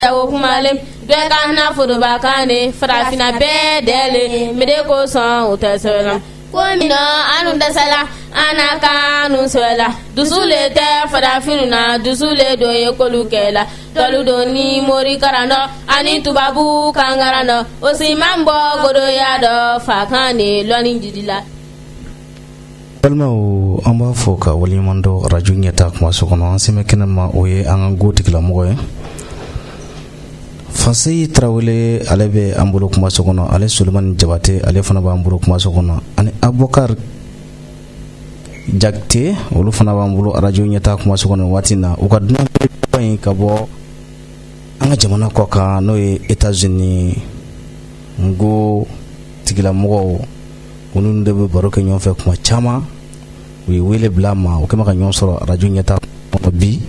Jago kumalen bɛɛ ka na foroba kan de farafinna bɛɛ dɛlen mire ko sɔn u tɛ sɛbɛn na ko min na an dun dɛsɛla an na kan dun sɛbɛla dusu le tɛ farafinw na dusu le don ye kolu kɛla dɔlu don ni mori karandɔ ani tubabu kan karandɔ o si man bɔ goroya dɔ fa kan de lɔni jiidi la balimaw an b'a fo ka waleɲuman dɔn arajo ɲɛtaa kumaso kɔnɔ an sen bɛ kɛnɛ ma o ye an ka n ko tigilamɔgɔ ye fanse tarawele ale bɛ an bolo kumaso kɔnɔ ale solomani jabate ale fana b'an bolo kumaso kɔnɔ ani abukari jakite olu fana b'an bolo arajo ɲɛtaa kumaso kɔnɔ waati na u ka dunan in ka bɔ an ka jamana kɔkan n'o ye etazini n ko tigilamɔgɔw minnu de bɛ baro kɛ ɲɔgɔn fɛ kuma caman u ye wele bila a ma u kɛlen bɛ ka ɲɔgɔn sɔrɔ arajo ɲɛtaa bi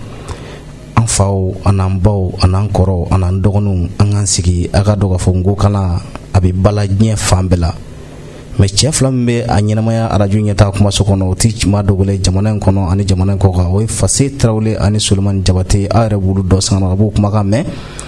an faw an'an baw an'an kɔrɔw an'an dɔgɔninw an k'an sigi an k'a dɔn k'a fɔ n ko kalan a bɛ ba la diɲɛ fan bɛɛ la mɛ cɛ fila min bɛ a ɲɛnamaya arajo ɲɛtaa kumaso kɔnɔ o tɛ maa dogolen jamana in kɔnɔ ani jamana in kɔkan o ye fanse tarawele ani solomani jabate aw yɛrɛ b'olu dɔn sanga ka b'u kumakan mɛn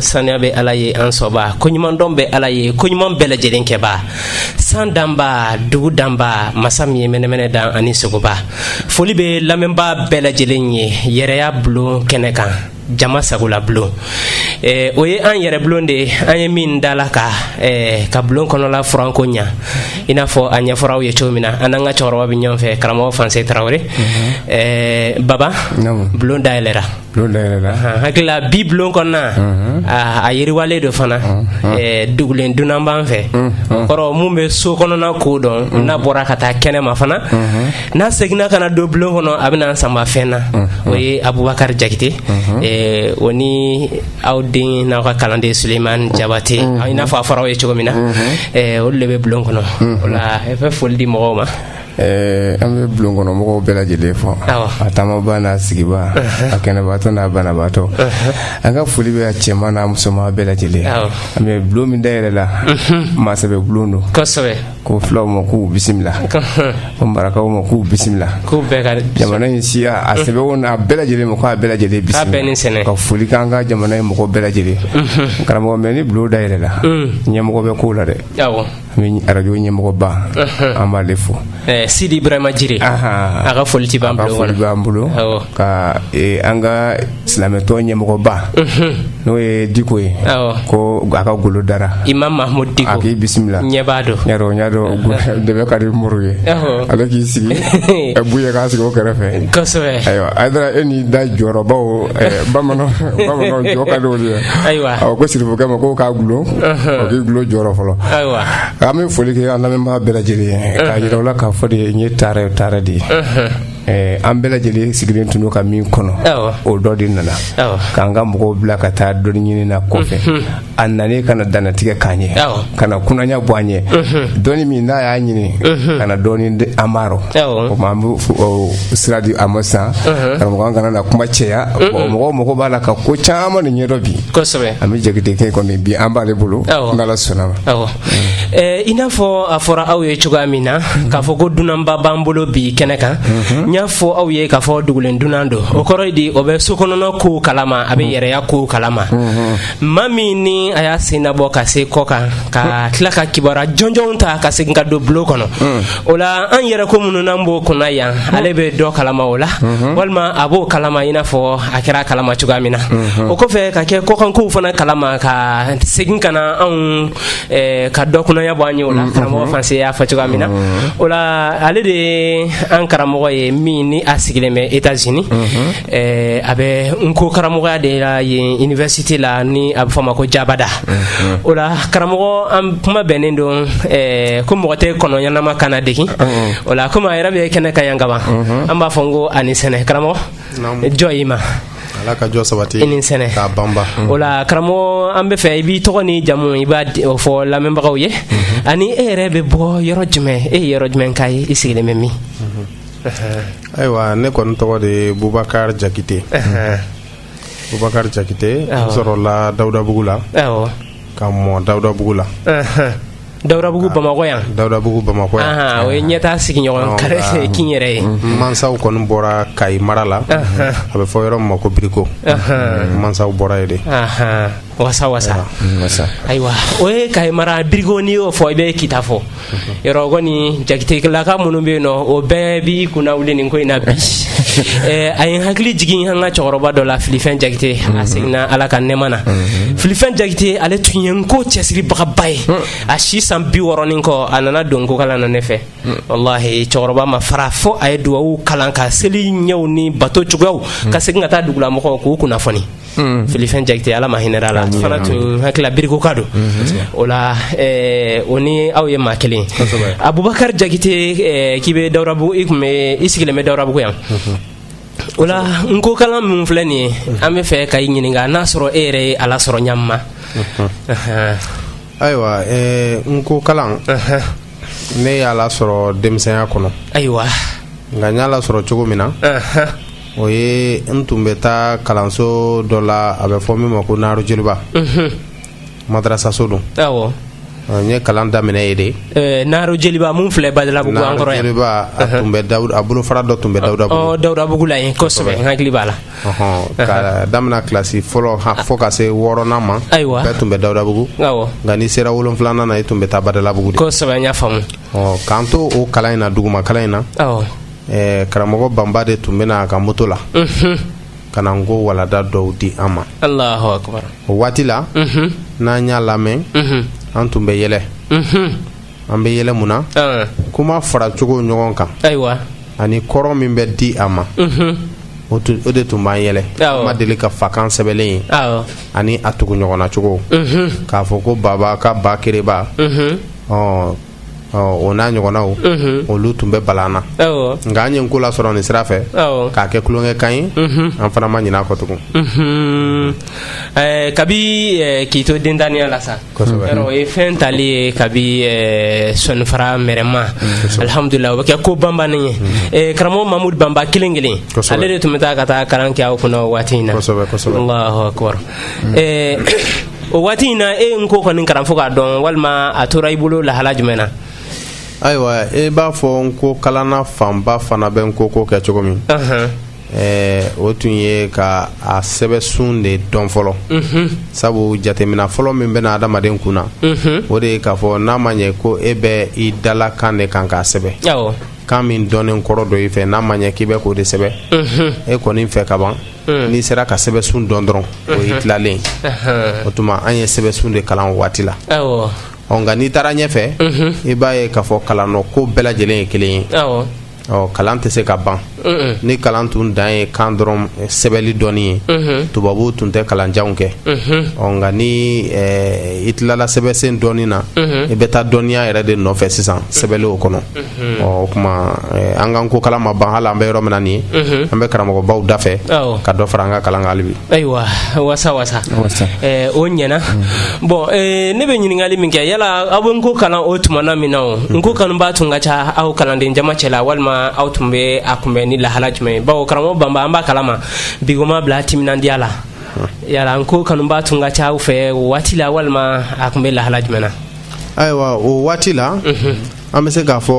saniya bɛ ala ye an sɔnba koɲumandɔn bɛ ala ye koɲuman bɛɛ lajɛlen kɛba san danba dugu danba masa min ye mɛnɛmɛnɛ dan ani sogoba foli bɛ lamɛnba bɛɛ lajɛlen ye yɛrɛya bulon kɛnɛ kan jama sagola bulon eh, o ye an yɛrɛ bulon de ye an ye min da la ka eh, ka bulon kɔnɔla furan ko ɲa i n'a fɔ a ɲɛfɔra aw ye cogo min na an n'an ka cɛkɔrɔba bɛ ɲɔgɔn fɛ karamɔgɔ fanse tarawele mm -hmm. eh, baba no. bulon dayɛlɛra hakilila bi bulon kɔnɔna a yiriwalen don fana dugulen dunan b'an fɛ o kɔrɔ min bɛ so kɔnɔna ko dɔn n'a bɔra ka taa kɛnɛ ma fana n'a seginna ka na don bulon kɔnɔ a bɛn'an sanba fɛn na o ye abubakari jakite o ni aw den n'aw ka kalanden sulemani jabate i n'a fɔ a fɔra aw ye cogo min na olu de bɛ bulon kɔnɔ o la an bɛ foli di mɔgɔw ma an bɛ bulon kɔnɔ mɔgɔw bɛɛ lajɛlen fo a taamaba n'a sigiba a kɛnɛbaatɔ n'a banabaatɔ an ka foli bɛ a cɛman n'a musoman bɛɛ lajɛlen an bɛ bulon min dayɛlɛla masakɛ bɛ bulon don ko fulaw ma k'u bisimila ko marakaw ma k'u bisimila jamana in siya a sɛbɛn a bɛɛ lajɛlen ma k'a bɛɛ lajɛlen bisimila ka foli k'an ka jamana in mɔgɔ bɛɛ lajɛlen karamɔgɔ mɛ ni bulon dayɛlɛla ɲɛmɔgɔ bɛ ko la dɛ Arajo ɲɛmɔgɔba an b'ale fo sidi bɛma jiri a ka foli tɛ ban foli b'an bolo ka an ka silamɛ tɔn ɲɛmɔgɔba n'o ye diko ye ko a ka golo dara imamu mahamudi k'i bisimila ɲɛ b'a dɔn de bɛ ka di muru ye a bɛ k'i sigi ka bɔ kɛrɛfɛ ayiwa a e ni da jɔyɔrɔbaw bamanan bamanan jɔ ka di ye ayiwa ko sirifukɛ ma ko k'a gulon o k'i gulon jɔyɔrɔ fɔlɔ ayiwa an bɛ foli kɛ an lamɛnbaa bɛɛ lajɛlen ye k'a yira u la k'a fɔ de n ye tare tare de ye Eh, an bɛɛ lajɛlen sigilen tun don ka min kɔnɔ o don de nana k'an ka mɔgɔw bila ka taa dɔnni ɲini na kɔfɛ a nalen ka na dantigɛ k'an ye ka na kunanya bɔ an ye dɔnni min n'a y'a ɲini ka na dɔɔni di an ma o tuma an bɛ sira di a ma sisan karamɔgɔ an kana na kuma caya mɔgɔ mɔgɔ b'a la ka ko caman ni ɲɛdɔn bi an bɛ jakitekɛ kɔni bi an b'ale bolo n'ala sɔnna ma i n'a fɔ a fɔra aw ye cogoya min na k'a fɔ ko dunanba b'an bolo bi kɛnɛ kan n y'a fɔ aw ye k'a fɔ dugulen dunan don o kɔrɔ ye di o bɛ so kɔnɔna kow kalama a bɛ yɛrɛya kow kalama maa min ni a y'a sen bɔ ka se kɔ kan ka tila ka kibaru jɔnjɔnw ta ka segin ka don bulon kɔnɔ hmm. o la an yɛrɛ ko minnu an b'o kunna yan hmm. ale bɛ dɔ kalama o la hmm. walima a b'o kalama i n'a fɔ a kɛra kalama cogoya min na o kɔfɛ ka kɛ kɔkanko fana kalama ka segin ka na anw eh, ka dɔ kunnaya bɔ an ye o la karamɔgɔ fanse y'a fɔ cogoya min na o la ale de ye an karamɔgɔ ye min ni a sigilen bɛ etazini Ɛɛ a bɛ nko karamɔgɔya de la yen université la ni a bɛ fɔ a ma ko jabada o la karamɔgɔ an kuma bɛnnen don ko mɔgɔ tɛ kɔnɔ ɲɛnama kan ladegi o la komi a yɛrɛ bɛ kɛnɛ kan yan ka ban an b'a fɔ n ko a ni sɛnɛ karamɔgɔ jɔ i ma Ala ka jɔ sabati i ni sɛnɛ k'a banba o la karamɔgɔ an b'a fɛ i b'i tɔgɔ ni jamu i b'o fɔ lamɛnbagaw ye ani e yɛrɛ bɛ bɔ yɔrɔ jumɛn e ye yɔrɔ jumɛn ka ye i sigilen bɛ min. ayiwa ne kɔni tɔgɔ de ye bubakari jakite bubakari jakite sɔrɔla dawudabugu la ka mɔ dawudabugu la dawudabugu bamakɔ yan dawudabugu bamakɔ yan o ye ɲɛta sigiɲɔgɔn kari kin yɛrɛ ye mansaw kɔni bɔra kayi mara la a bɛ fɔ yɔrɔ ma ko biriko mansaw bɔra yen de wasa wasa ayiwa o ye kayi mara birigo n'i y'o fɔ i bɛ kita fɔ yɔrɔ kɔni jakitelaka minnu bɛ yen nɔ o bɛɛ b'i kunna wuli nin ko in na bi eh, a ye n hakili jigin an ka cɛkɔrɔba dɔ la filifɛn jakite a mhm. seginna ala ka nɛɛma ma mhm. filifɛn jakite ale tun ye nko cɛsiribagaba ye mhm. a si san bi wɔɔrɔ ni kɔ a nana don nko kalan na ne fɛ walahi cɛkɔrɔba ma fara fo a ye duwawu kalan ka seli ɲɛw ni bato cogoyaw ka segin ka taa dugulamɔgɔw k'u kunnafoni filifɛn jakite ala ma hinɛ a la fana tun hakili la birikoka don o la o ni aw ye maa kelen a bubakari jakite k'i bɛ dabu i tun bɛ i sigilen bɛ dawudabugu yan o la nko kalan min filɛ nin ye an b'a fɛ ka i ɲininka n'a sɔrɔ e yɛrɛ ye a lasɔrɔ ɲa ma ayiwa nko kalan ne y'a lasɔrɔ denmisɛnya kɔnɔ ayiwa nka n y'a lasɔrɔ cogo min na o ye n tun bɛ taa kalanso dɔ la a bɛ fɔ min ma ko naro jeliba madarasaso don n ye kalan daminɛ yen de naro jeliba min filɛ badala tun bɛ a bolofara dɔ tun bɛ dawuda dawudabugu la kosɛbɛ hakili b'a la ka daminɛ kilasi fɔlɔ fo ka se wɔɔrɔnan ma ayiwa tun bɛ dawudabugu nka n'i sera wolon wolonwulanan na i tun bɛ taa badalabugu kosɛbɛ faamu k'an to o kalan in na duguma kalan in na ɛɛ karamɔgɔ banba de tun bɛ na a ka moto la ka na nko walanda dɔw di an ma o waati la n'an y'a lamɛn an tun bɛ yɛlɛ an bɛ yɛlɛ mun na kuma fara cogo ɲɔgɔn kan ani kɔrɔ min bɛ di a ma o de tun b'an yɛlɛ an ma deli ka fakan sɛbɛnlen ye ani a tugu ɲɔgɔn na cogo k'a fɔ ko baba ka ba kereba o n'a ɲɔgɔnnaw olu tun bɛ bala an na nka an ye kalan sɔrɔ nin sira fɛ k'a kɛ tulonkɛ kan ye an fana ma ɲina a kɔ tugun kabi k'i to denya la sa o ye fɛn tali ye kabi sɔnfara mɛma alihamdulila o bɛ kɛ ko banba ye karamɔgɔ mamudu banba kelen kelen ale de tun bɛ taa ka taa kalan kɛ aw kun o waati in na o waati in na e ye nko kɔni kalan fo k'a dɔn walima a tora i bolo lahala jumɛn na ayiwa e b'a fɔ nko kalanna fanba fana bɛ nko ko kɛ cogo min o tun ye ka a sɛbɛsun de dɔn fɔlɔ sabu jateminɛ fɔlɔ min bɛ na adamaden kun na o de ye k'a fɔ n'a ma ɲɛ ko e bɛ i dalakan de kan k'a sɛbɛn kan min dɔnnen kɔrɔ don i fɛ n'a ma ɲɛ k'i bɛ k'o de sɛbɛn e kɔni fɛ ka ban n'i sera ka sɛbɛsun dɔn dɔrɔn o i tilalen o tuma an ye sɛbɛsun de kalan o waati la nka n'i taara ɲɛfɛ i b'a ye k'a fɔ kalan ko bɛɛ lajɛlen ye kelen ye ɔ kalan tɛ se ka ban ni kalan tun dan ye kan dɔrɔn sɛbɛli dɔnni ye tubabu tun tɛ kalanjanw kɛ nka ni i tilala sɛbɛsun dɔnni na i bɛ taa dɔnniya yɛrɛ de nɔfɛ sisan sɛbɛnlen o kɔnɔ o tuma an ka nko kalan ma ban hali an bɛ yɔrɔ min na nin ye an bɛ karamɔgɔbaw da fɛ ka dɔ fara an ka kalan hali bi ayiwa wasa wasa o ɲɛna bɔn ne bɛ ɲininkali min kɛ yala aw bɛ nko kalan o tuma na min na o nko kanubaa tun ka ca aw kalanden jama cɛ la walima aw tun bɛ a kunbɛn ni lahala jumɛn ye bawo karamɔgɔ banba an b'a kalama a bɛ mɔgɔ bila timinandiya la yala nko kanubaa tun ka ca aw fɛ waati la walima a tun bɛ lahala jumɛn na ayiwa o waati la an bɛ se k'a fɔ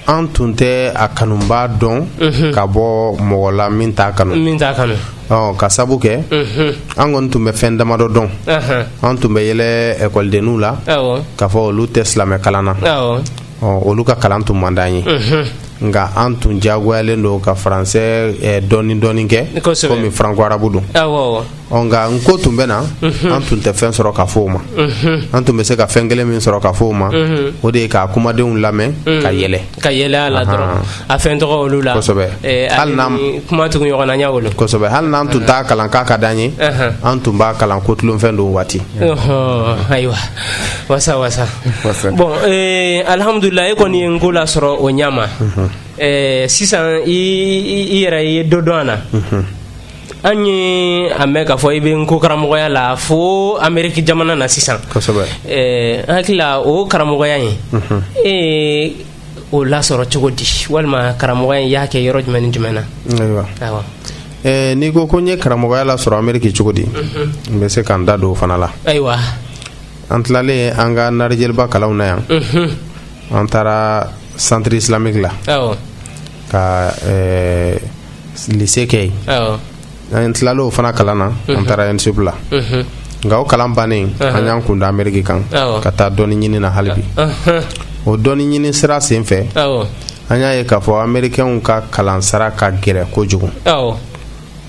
an tun tɛ a kanubaa dɔn mhm. ka bɔ mɔgɔ la min t'a kanu ka sabu kɛ mhm. an kɔni tun bɛ fɛn damadɔ dɔn an tun bɛ yɛlɛ ɛkɔlidenninw la k'a fɔ olu tɛ silamɛ kalan na olu ka kalan tun man d'an ye mhm. nka an tun diyagoyalen don ka faransɛ dɔɔni dɔɔni kɛ komi faranko arabu don nka nko tun bɛ na an tun tɛ fɛn sɔrɔ ka fɔ o ma an tun bɛ se ka fɛn kelen min sɔrɔ ka fɔ o ma o de ye ka kumadenw lamɛn ka yɛlɛ ka yɛlɛ la a fɛn tɔgɔ olu la hali kuma tugu ɲɔgɔnsɛbɛ hali n'an tun taa kalan k'a ka di an ye an tun b'a kalan ko tulonfɛn don waati ayiwa wasa wasa bɔn alihamududulila e kɔni ye nko lasɔrɔ o ɲa ma sisan i yɛrɛ i ye dɔ dɔn an na an ye a mɛn k'a fɔ i bɛ nko karamɔgɔya la fo ameriki jamana na sisan eh, an hakili la o karamɔgɔya in mhm. e o lasɔrɔ cogo di walima karamɔgɔya in i y'a kɛ yɔrɔ jumɛn ni jumɛn na ayiwa eh, n'i ko ko n ye karamɔgɔya lasɔrɔ ameriki cogo di mhm. n bɛ se ka n da don o fana la ayiwa an tilalen an ka nahar joliba kalanw na yan mhm. an taara centre islamique la ka eh, lise kɛ yen an tilala o fana kalan na an taara an segu la nka o kalan bannen an y'an kun da ameriki kan ka taa dɔni ɲini na halibi o dɔni ɲini sira sen fɛ an y'a ye k'a fɔ amerikɛnw ka kalan sara ka gɛrɛ kojugu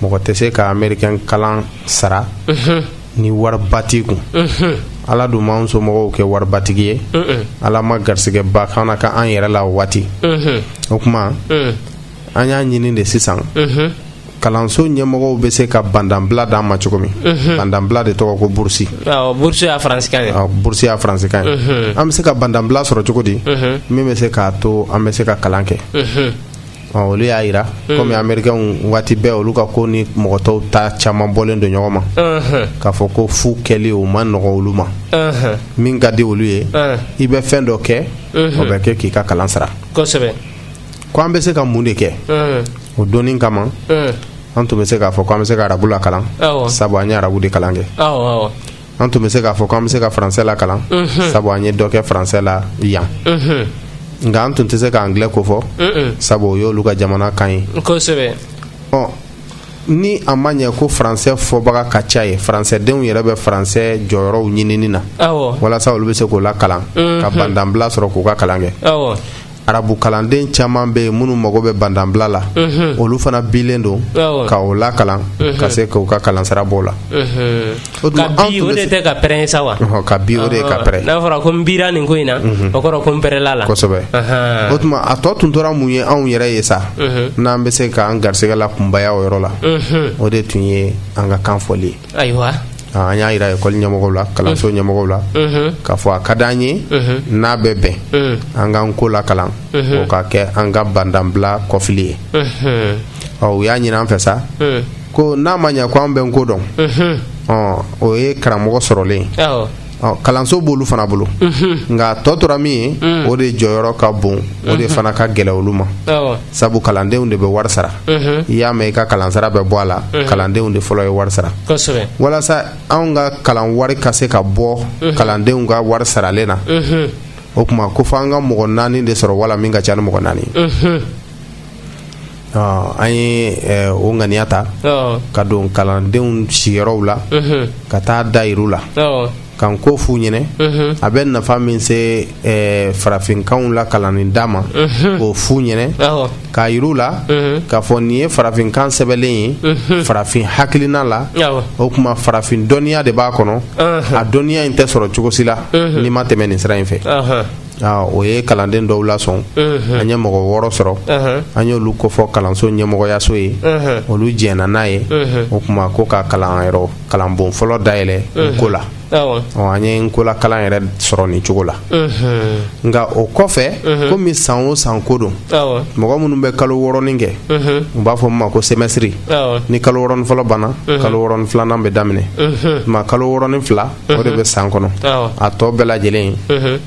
mɔgɔ tɛ se ka ameriki kalan sara ni wariba t'i kun ala dun m'an somɔgɔw kɛ waribatigi ye ala ma garisigɛba kana ka an yɛrɛ la o waati o tuma an y'a ɲini de sisan kalanso ɲɛmɔgɔw bɛ se ka bandanbila d'an ma cogo min bandanbila de tɔgɔ ko burusi burusi y'a faransikan ye burusi y'a faransikan ye an bɛ se ka bandanbila sɔrɔ cogo di min bɛ se k'a to an bɛ se ka kalan kɛ olu y'a jira kɔmi amerikɛnw waati bɛɛ olu ka ko ni mɔgɔ tɔw ta caman bɔlen don ɲɔgɔn ma k'a fɔ ko fu kɛli o man nɔgɔ olu ma min ka di olu ye i bɛ fɛn dɔ kɛ o bɛ kɛ k'i ka kalan sara Ko an bɛ se ka mun de kɛ o dɔnni kama an tun bɛ se k'a fɔ ko an bɛ se ka arabu lakalan sabu an ye arabu de kalan kɛ an tun bɛ se k'a fɔ ko an bɛ se ka faransɛ lakalan sabu an ye dɔ kɛ faransɛ la yan nka an tun tɛ se k'angilɛ ko fɔ sabu o y'olu ka jamana kan ye ni a ma ɲɛ ko faransɛ fɔbaga ka ca yen faransɛdenw yɛrɛ bɛ faransɛ jɔyɔrɔw ɲinin na walasa olu bɛ se k'o lakalan ka bandanbila sɔrɔ k'u ka kalan kɛ arabu kalanden caman bɛ yen minnu mago bɛ bandanbila la olu fana bilen don ka o la kalan ka se k'u ka kalansara b'o la o tɛ ka pɛ sa wa ka bi o de ka pɛ n'a fɔra ko n bi nin ko in na o kɔrɔ ko n pɛla la kosɛbɛ o tuma a tɔ tun tora mun ye anw yɛrɛ ye sa n'an bɛ se k'an garisɛgɛ lakunbaya o yɔrɔ la o de tun ye an ka kanfɔli ye ayiwa an y'a jira ekɔli ɲɛmɔgɔ la kalanso mm. ɲɛmɔgɔ la mm-hmm. k'a fɔ a ka di an ye mm-hmm. n'a bɛ bɛn mm. an ka n ko lakalan mm-hmm. o ka kɛ an ka bandanbila kɔfili ye ɔ u y'a ɲini an fɛ sa mm. ko n'a ma ɲɛ ko an bɛ n ko dɔn o ye karamɔgɔ sɔrɔlen kalanso b'olu fana bolo nka tɔ tora min ye o de jɔyɔrɔ ka bon o de fana ka gɛlɛn olu ma sabu kalandenw de bɛ wari sara i y'a mɛn i ka kalansara bɛ bɔ a la kalandenw de fɔlɔ ye wari sara walasa anw ka kalan wari ka se ka bɔ kalandenw ka wari saralen na o tuma ko fo an ka mɔgɔ naani de sɔrɔ wala min ka ca ni mɔgɔ naani An ye o ŋaniya ta ka don kalandenw sigiyɔrɔw la ka taa d'a yira u la ka n ko fɔ u ɲɛ a bɛ nafa min se farafinkan lakalanni da ma k'o fɔ u ɲɛ k'a yira u la k'a fɔ nin ye farafinkan sɛbɛli ye farafin hakilina la o tuma farafin dɔnniya de b'a kɔnɔ a dɔnniya in tɛ sɔrɔ cogo si la n'i ma tɛmɛ nin sira in fɛ O ye kalanden dɔw lasɔn an ye mɔgɔ wɔɔrɔ sɔrɔ an y'olu kofɔ kalanso ɲɛmɔgɔyaso ye olu jɛnna n'a ye o tuma ko ka kalan yɔrɔ kalanbon fɔlɔ dayɛlɛ n ko la an ye n ko lakalan yɛrɛ sɔrɔ nin cogo la nka o kɔfɛ komi san o san ko don mɔgɔ minnu bɛ kalo wɔɔrɔnin kɛ u b'a fɔ a ma ko semɛsitiri ni kalo wɔɔrɔnin fɔlɔ banna kalo wɔɔrɔnin filanan bɛ daminɛ ma kalo wɔɔrɔnin fila o de bɛ san kɔnɔ a tɔ bɛɛ lajɛlen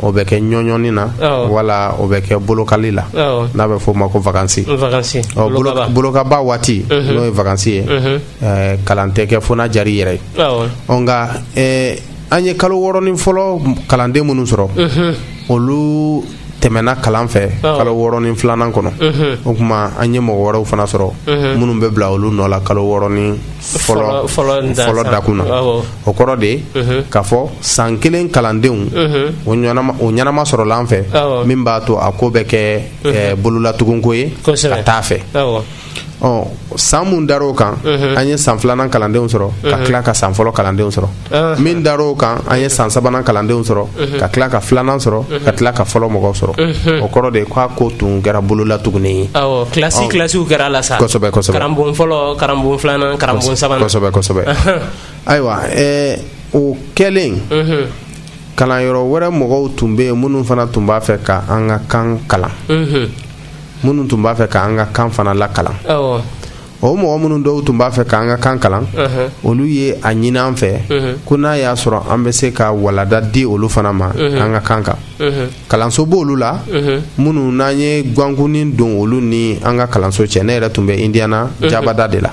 o bɛ kɛ ɲɔɲɔni na wala o bɛ kɛ bolokali la n'a bɛ f'o ma ko vakansi bolokaba waati n'o ye vakansi ye kalan tɛ kɛ fo jari yɛrɛ ye ɔ nka an ye kalo wɔɔrɔnin fɔlɔ kalanden minnu sɔrɔ olu tɛmɛna kalan fɛ kalo wɔɔrɔnin filanan kɔnɔ o tuma an ye mɔgɔ wɛrɛw fana sɔrɔ minnu bɛ bila olu nɔ la kalo wɔɔrɔnin fɔlɔ dakun na o kɔrɔ de ye k'a fɔ san kelen kalandenw o ɲɛnama sɔrɔla an fɛ min b'a to a ko bɛ kɛ bololatugunko ye ka taa fɛ ɔ san mun dar'o kan mhm. an ye san filanan kalandenw sɔrɔ ka mhm. tila ka san fɔlɔ kalandenw sɔrɔ mhm. min dar'o kan an ye san sabanan kalandenw sɔrɔ ka tila ka filanan sɔrɔ ka tila ka fɔlɔ mɔgɔw sɔrɔ o kɔrɔ de k'a ko tun kɛra bololatugunni ye awɔ kilasi kilasiw kɛra la sa kosɛbɛ kosɛbɛ karamɔgɔ fɔlɔ karamɔgɔ filanan karamɔgɔ sabanan kosɛbɛ kosɛbɛ ayiwa ɛɛ o kɛlen kalanyɔrɔ wɛrɛ mɔgɔw tun bɛ yen minnu fana tun b'a fɛ ka an ka kan kalan minnu tun b'a fɛ k'an ka kan fana lakalan o mɔgɔ minnu dɔw tun b'a fɛ k'an ka kan kalan olu ye a ɲini an fɛ ko n'a y'a sɔrɔ an bɛ se ka walada di olu fana ma an ka kan kan kalanso b' olu la minnu n'an ye gwankunni don olu ni an ka kalanso cɛ ne yɛrɛ tun bɛ indiana jabada de la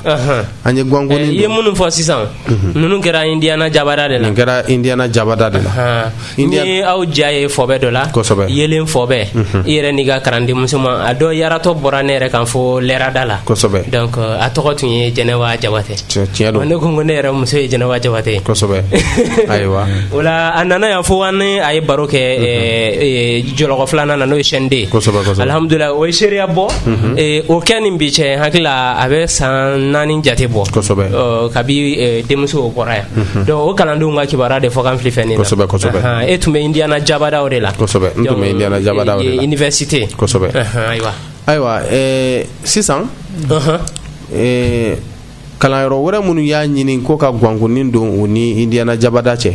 an ye gwankunni eh, i ye minnu fɔ sisan mhm. ninnu kɛra indiyana jabada de la nin kɛra indiyana jabada de la n y'aw ja ye fɔbɛ dɔ la kosɛbɛ yelen fɔbɛ mhm. i yɛrɛ n'i ka kalanden musoma dɔ yaratɔ bɔra ne yɛrɛ kan fo lɛrada la kosɛbɛ donc euh, a tɔgɔ tun ye jɛnɛba jabate tiɲɛ don ne ko ko ne yɛrɛ muso ye jɛnɛba jabate kosɛbɛ ayiwa o la a nana yan fo an ni a ye baro kɛ mhm. eh, eh, jɔlɔkɔ filanan na n'o ye chaîne deux kosɛbɛ kosɛbɛ alhamdulilayi o ye seereya bɔ o kɛ ni bi cɛ hakili la a bɛ san naani jate bɔ kabi denmuso o bɔra yan o kalandenw ka kibaruya de fɔkan fili fɛn e tun bɛ indiana jabada o de la université ayiwa ayiwa sisan kalanyɔrɔ wɛrɛ minnu y'a ɲini ko ka gwankunni don u ni indiana jabada cɛ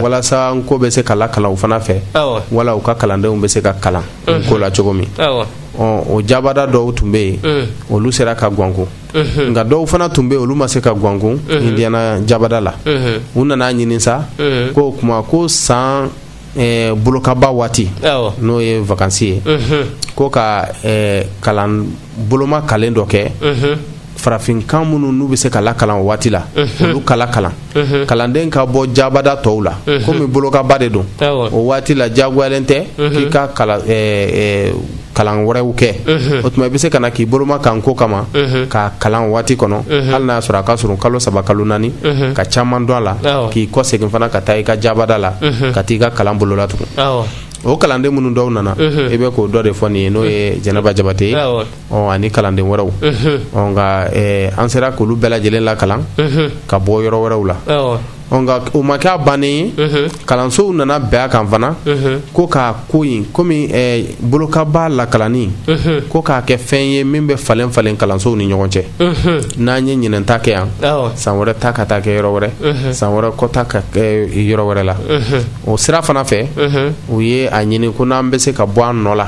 walasa nko bɛ se ka lakalan u fana fɛ wala u ka kalandenw bɛ se ka kalan nko la cogo min o jabada dɔw tun bɛ yen mm. olu sera ka gwankun mm-hmm. nka dɔw fana tun bɛ yen olu ma se ka gwankun mm-hmm. indiana jabada la mm-hmm. u nana a ɲini sa ko o tuma ko san eh, bolokaba waati awɔ n'o ye vakansi ye mhm ko ka eh, kalan bolomakalen dɔ kɛ mhm farafinkan minnu n'u bɛ se ka lakalan o waati la olu ka lakalan mhm kalanden ka bɔ jabada tɔw la komi bolokaba de don awɔ o waati la diyagoyalen tɛ k'i ka kalan eh, eh, kalan wɛrɛw kɛ o tuma i bɛ se ka na k'i bolomaka nko kama k'a kalan waati kɔnɔ hali n'a y'a sɔrɔ a ka surun kalo saba kalo naani ka caman dɔn a la k'i kɔ segin fana ka taa i ka jabada la ka taa i ka kalan bololatugun o kalanden minnu dɔw nana i bɛ k'o dɔ de fɔ nin ye n'o ye jɛnɛba jabate ye ani kalanden wɛrɛw nka an sera k'olu bɛɛ lajɛlen lakalan ka bɔ yɔrɔ wɛrɛw la O ma kɛ a ban de ye kalansow nana bɛn a kan fana ko ka ko kɔmi bolokaba lakalanni ko k'a kɛ fɛn ye min bɛ falen falen kalansow ni ɲɔgɔn cɛ n'an ye ɲinan ta kɛ yan san wɛrɛ ta ka taa kɛ yɔrɔ wɛrɛ san wɛrɛ kɔ ta ka kɛ yɔrɔ wɛrɛ la o sira fana fɛ u ye a ɲini ko n'an bɛ se ka bɔ an nɔ la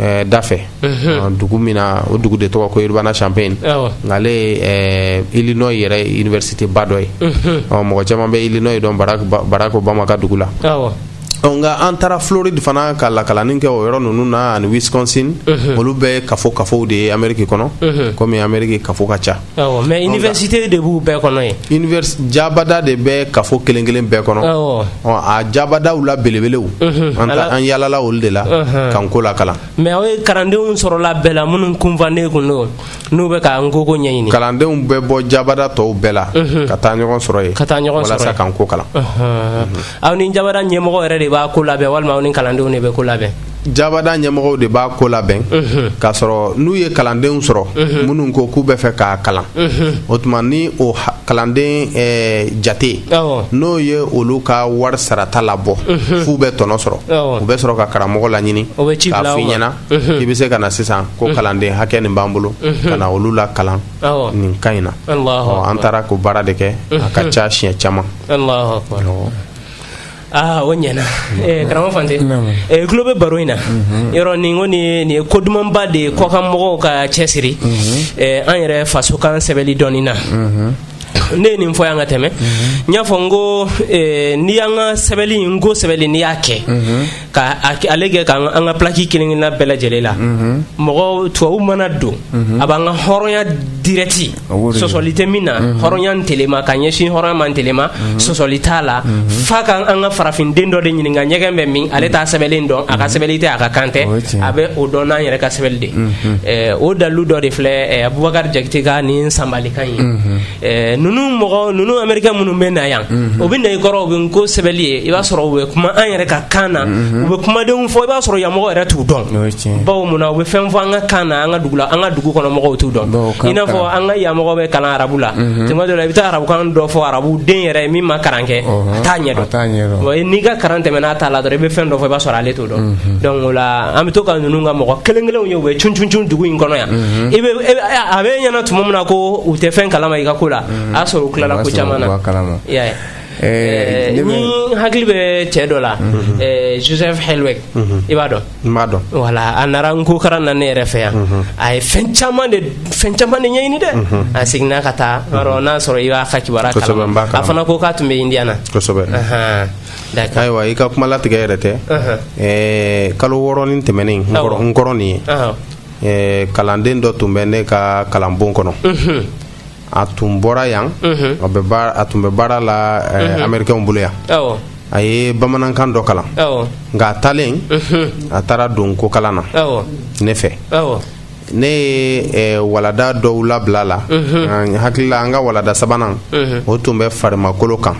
ɛɛ dafɛ dugu min na o dugu de tɔgɔ ko Urbana Champaign n'ale ye ɛɛ Illinois yɛrɛ université ba dɔ ye ɔ mɔgɔ caman bɛ Illinois dɔn Barack Obama ka dugu la nka an taara Floride fana ka lakalanni kɛ o yɔrɔ ninnu na ani Wisconsin olu bɛɛ ye kafo kafow de ye Ameriki kɔnɔ komi Ameriki kafo ka ca. Awɔ mais université de b'u bɛɛ kɔnɔ yen, univers jaabada de bɛ kafo kelen kelen bɛɛ kɔnɔ, awɔ, ɔ a jaabadaw la belebelew, unhun, an ta an yaalala olu de la, unhun, ka nko lakalan mais aw ye kalandenw sɔrɔla bɛɛ la minnu kunfan de tun don n'u bɛ ka nko ko ɲɛɲini, kalandenw bɛ bɔ jaabada tɔw bɛɛ la, unhun, ka taa ɲɔgɔn sɔrɔ yen, ka taa ɲɔgɔn sɔrɔ yen, walasa ka nko kalan, unhun, aw ni jaabada ɲɛmɔgɔ yɛrɛ de b'a ko labɛn walima aw ni kalandenw de bɛ ko labɛn jabada ɲɛmɔgɔw de b'a ko labɛn k'a sɔrɔ n'u ye kalandenw sɔrɔ minnu ko k'u b'a fɛ k'a kalan o tuma ni o kalanden eh, jate n'o ye olu ka wari sarata labɔ f'u bɛ tɔnɔ sɔrɔ u bɛ sɔrɔ ka karamɔgɔ laɲini k'a f'i ɲɛna i bɛ se ka na sisan ko kalanden hakɛ nin b'an bolo ka na olu lakalan nin ka ɲi na an taara k'o baara de kɛ a ka ca siɲɛ caman aa o ɲɛna eh, karamɔgɔ Fante e tulo bɛ baro in na mhm. yɔrɔ nin ko nin ye ko dumanba de ye kɔkan mɔgɔw ka cɛsiri mhm. eh, an yɛrɛ fasokan sɛbɛli dɔnni na mhm. ne ye nin fɔ yan ka tɛmɛ n y'a fɔ n ko eh, n'i y'an ka sɛbɛli nko sɛbɛli n'i y'a kɛ ka ale kɛ ka an ka pilaki kelen kelenna bɛɛ lajɛlen la mɔgɔ tubabu mana don a b'an ka hɔrɔnya dirɛti sɔsɔli tɛ min na hɔrɔnya ntelema ka ɲɛsin hɔrɔnya ma ntelema sɔsɔli t'a la f'a ka an ka farafinden dɔ de ɲininka ɲɛgɛn bɛ min ale t'a sɛbɛnlen dɔn a ka sɛbɛnni tɛ a ka kan tɛ a bɛ o dɔn n'an yɛrɛ ka sɛbɛnni de ye o dalilu dɔ de filɛ Bubakari Jakite ka nin sanbalikan ye ninnu mɔgɔ ninnu amerikɛn minnu bɛ na yan u bɛ na i kɔrɔ u bɛ nko sɛbɛnni ye i b'a sɔrɔ u bɛ kuma an yɛrɛ ka kan na u bɛ kumadenw fɔ i b'a sɔrɔ yan mɔgɔ yɛrɛ t'u dɔn bawo mun u bɛ fɛn fɔ an ka kan na an ka dugu la an ka dugu kɔnɔ mɔgɔw t'u dɔn i n'a fɔ an ka yan mɔgɔ bɛ kalan arabu la tuma dɔ i bɛ taa arabukan dɔ fɔ arabu den yɛrɛ ye min ma kalan kɛ a t'a ɲɛ n'i ka kalan tɛmɛna a ta la dɔrɔn i bɛ fɛn dɔ fɔ i b'a sɔrɔ ale t'o dɔn la an bɛ to ka ninnu ka mɔgɔ kelen kelen ye bɛ c c dugu in kɔnɔ yan a b'i ɲɛna tuma min na ko u tɛ fɛn kala ma i ka ko la a'a sɔrɔ u tilala ko caman na n'i hakili bɛ cɛ dɔ la joseph hɛlɛ i b'a dɔn N b'a dɔn wala a nana nko karan na ne yɛrɛ fɛ yan a ye fɛn caman de fɛn caman de ɲɛɲini dɛ a seginna ka taa n'a sɔrɔ i b'a ka kibaruya a fana ko k'a tun bɛ indiya na ayiwa i ka kuma latigɛ yɛrɛ tɛ kalo wɔɔrɔ nin tɛmɛnen in kɔnɔ nin ye kalanden dɔ tun bɛ ne ka kalanbon kɔnɔ a tun bɔra yan a tun bɛ baara la amerikaw bolo yan a ye bamanankan dɔ kalan nka a taalen a taara don ko kalan na ne fɛ ne ye walada dɔw labila a la n hakili la an ka walada sabanan o tun bɛ farimakolo kan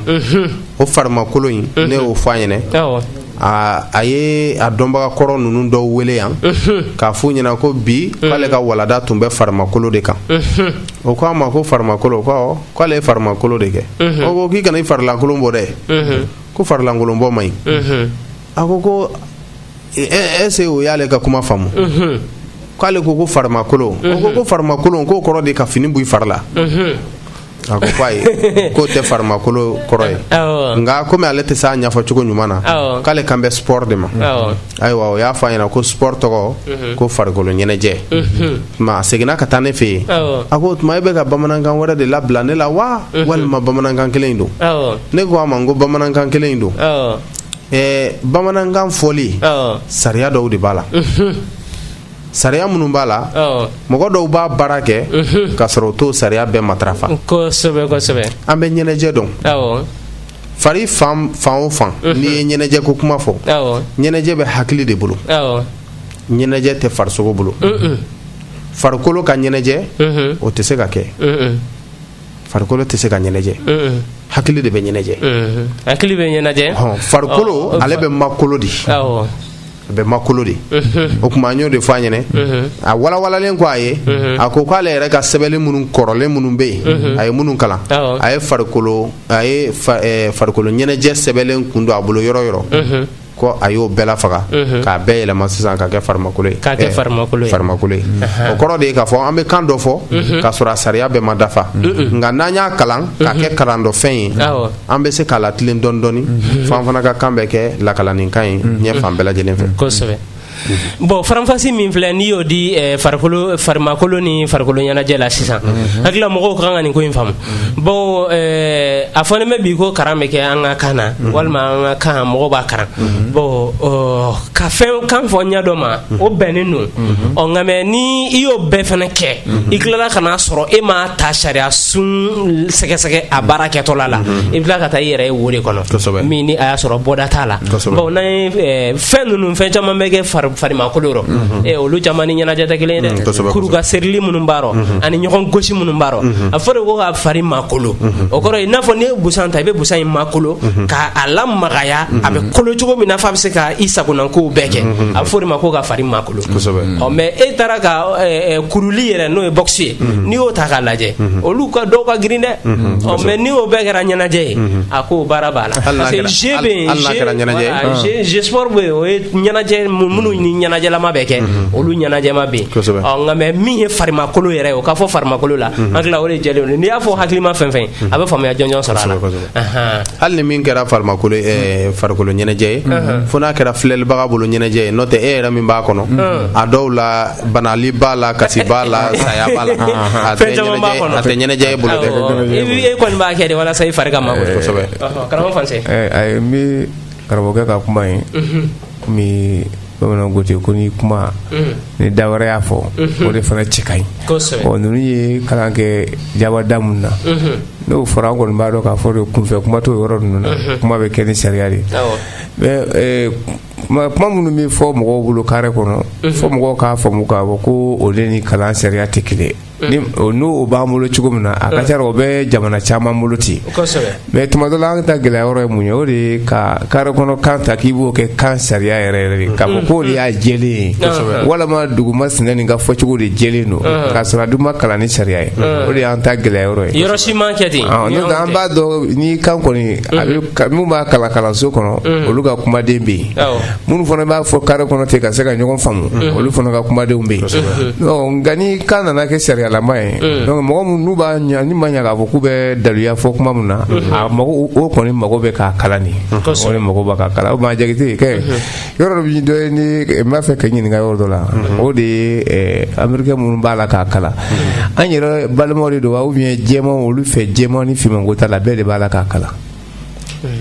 o farimakolo in ne y'o fɔ a ɲ aa a ye a dɔnbaga kɔrɔ ninnu dɔw wele yan k'a f'u ɲɛna ko bi k'ale ka walada tun bɛ farimakolo de kan o k'a ma ko farimakolo ko awɔ k'ale ye farimakolo de kɛ o ko k'i kana i farilankolon bɔ dɛ ko farilankolon bɔ man ɲi a ko ko ɛse o y'ale ka kuma faamu k'ale ko ko farimakolo o ko ko farimakolo k'o kɔrɔ de ka fini bɔ i fari la A ko ko ayi k'o tɛ farimakolo kɔrɔ ye nka kɔmi ale tɛ se k'a ɲɛfɔ cogo ɲuman na k'ale kan bɛ spɔri de ma ayiwa o y'a fɔ a ɲɛna ko spɔri tɔgɔ ko farikolo ɲɛnajɛ a seginna ka taa ne fɛ yen a ko o tuma e bɛ ka bamanankan wɛrɛ de labila ne la wa walima bamanankan kelen in don ne ko a ma ko bamanankan kelen in don bamanankan fɔli sariya dɔw de b'a la sariya minnu b'a la mɔgɔ dɔw b'a baara kɛ mhm. k'a sɔrɔ o t'o sariya bɛɛ matarafa kosɛbɛ kosɛbɛ an bɛ ɲɛnajɛ dɔn fari fan o fan mhm. n'i ye ɲɛnajɛ ko kuma fɔ ɲɛnajɛ bɛ hakili de bolo ɲɛnajɛ tɛ farisogo bolo mhm. farikolo ka ɲɛnajɛ o tɛ se ka kɛ farikolo tɛ se ka ɲɛnajɛ hakili de bɛ ɲɛnajɛ hakili bɛ ɲɛnajɛ farikolo ale bɛ makolo de a bɛ makolo de o tuma an y'o de fɔ a ɲɛna a walawalalen kɔ a ye a ko k'ale yɛrɛ ka sɛbɛn minnu kɔrɔlen minnu bɛ yen a ye minnu kalan a ye farikolo a ye farikolo ɲɛnajɛ sɛbɛnlen kun don a bolo yɔrɔ o yɔrɔ ko a y'o bɛɛ faga k'a bɛɛ yɛlɛma sisan k'a kɛ farimakolo ye k'a kɛ farimakolo ye farimakolo o kɔrɔ de k'a fɔ an bɛ kan dɔ fɔ k'a sɔrɔ a sariya bɛɛ ma dafa nka n'an y'a kalan k'a kɛ kalan dɔnfɛn ye an bɛ se k'a latilen dɔɔni dɔɔni fo an fana ka kan bɛ kɛ lakalaninkan ye diɲɛ fan bɛɛ lajɛlen fɛ kosɛbɛ bon faranfasi min filɛ n'i y'o di eh, farikolo farimakolo ni farikolo ɲɛnajɛ la sisan n hakili la mɔgɔw ka kan ka nin ko in faamu bon eh, a fɔlen bɛ bi ko karan bɛ kɛ an ka kan na walima an ka kan mɔgɔw b'a karan bon ɔ, ka fɛn kan fɔ ɲɛ dɔ ma o bɛnnen don ɔ nka mɛ ni i y'o bɛɛ fana kɛ i tilala ka n'a sɔrɔ e ma taa sariya sun sɛgɛsɛgɛ a baara kɛtɔla la i tila ka taa i yɛrɛ ye wari kɔnɔ min a y'a sɔrɔ bɔda t'a la n fɛn ninnu fɛn caman bɛ kɛ farimakolo olu caman ni ɲɛnajɛ tɛ kelen dɛ kuru ka serili minnu baara ani ɲɔgɔn gosi minnu baara a fɔ de ko ka fari makolo o kɔrɔ n'a fɔ ne ye busan ta i bɛ busan in makolo k'a lamagaya a bɛ kolo cogo min na fo a bɛ se ka i sagokow bɛɛ kɛ a fɔ de ma ko ka fari ma mɛ e taara ka kuruli yɛrɛ n'o ye boxe ye n'i y'o ta k'a lajɛ olu ka dɔw ka girin dɛ mɛ n'o bɛɛ kɛra ɲɛnajɛ ye a ko baara b'a la o ye ɲɛnajɛ minnu ni ɲɛnajɛma bɛ kɛ olu ɲɛnajɛma bɛ nka mɛ min ye farimakolo yɛrɛ o k'a fɔ farimakolo la an tila o de lajɛlen n'i y'a fɔ hakililima fɛn fɛn a bɛ faamuya jɔnjɔn sɔrɔ a la hali ni min kɛra farimakolo farikolo ɲɛnajɛ ye fo n'a kɛra filɛlibaga bolo ɲɛnajɛ ye n'o tɛ e yɛrɛ min b'a kɔnɔ a dɔw la banali b'a la kasi b'a la saya b'a la a tɛ ɲɛnajɛ e bolo dɛ e kɔni b'a kɛ de walasa i fari ka ma kosɛbɛ karamɔgɔ fan a ye n bɛ karamɔgɔkɛ ka kuma ye bamananw ko ten ko n'i kuma ni da wɛrɛ y'a fɔ o de fana cɛ ka ɲi kosɛbɛ ɔ ninnu ye kalan kɛ jabada minnu na n'o fɔra an kɔni b'a dɔn k'a fɔ de kunfɛ kuma t'o yɔrɔ ninnu na kuma bɛ kɛ ni sariya de ye awɔ mɛ eh, kuma kuma minnu bɛ fɔ mɔgɔw bolo kare kɔnɔ fɔ mɔgɔw k'a faamu k'a fɔ ko o de ni kalan sariya tɛ kelen ye n'o b'an bolo cogo min na a ka ca o bɛ jamana caman bolo ten mɛ tuma dɔ la an ta gɛlɛya yɔrɔ ye mun ye o de ye ka kare kɔnɔ kan ta k'i b'o kɛ kan sariya yɛrɛ ye k'a fɔ k'o de y'a jɛlen ye walima dugu masinɛ nin ka fɔcogo de jɛlen don ka sɔrɔ a dun ma kalan ni sariya ye o de y'an ta gɛlɛya yɔrɔ ye an b'a dɔn ni kan kɔni minnu b'a kalan kalanso kɔnɔ olu ka kumaden bɛ yen minnu fana b'a fɔ kare kɔnɔ ten ka se ka ɲɔgɔn faamu mm. olu fana ka kumadenw bɛ yen nka ni kan nana kɛ sariyalama ye mm. mɔgɔ minnu b'a ɲa ni ma ɲa k'a fɔ k'u bɛ daluya fɔ kuma min na mm-hmm. a mago o kɔni mago bɛ k'a kalan de o de mago b'a ka kalan o maa jagite kɛ mm-hmm. yɔrɔ dɔ bɛ dɔ ye ni n b'a fɛ k'a ɲininka yɔrɔ dɔ la mm-hmm. o de ye eh, amerikɛn minnu b'a la k'a kalan an yɛrɛ balimaw de don wa ou bien jɛmanw olu fɛ jɛman ni finmanko t'a la bɛɛ de b'a la k'a kalan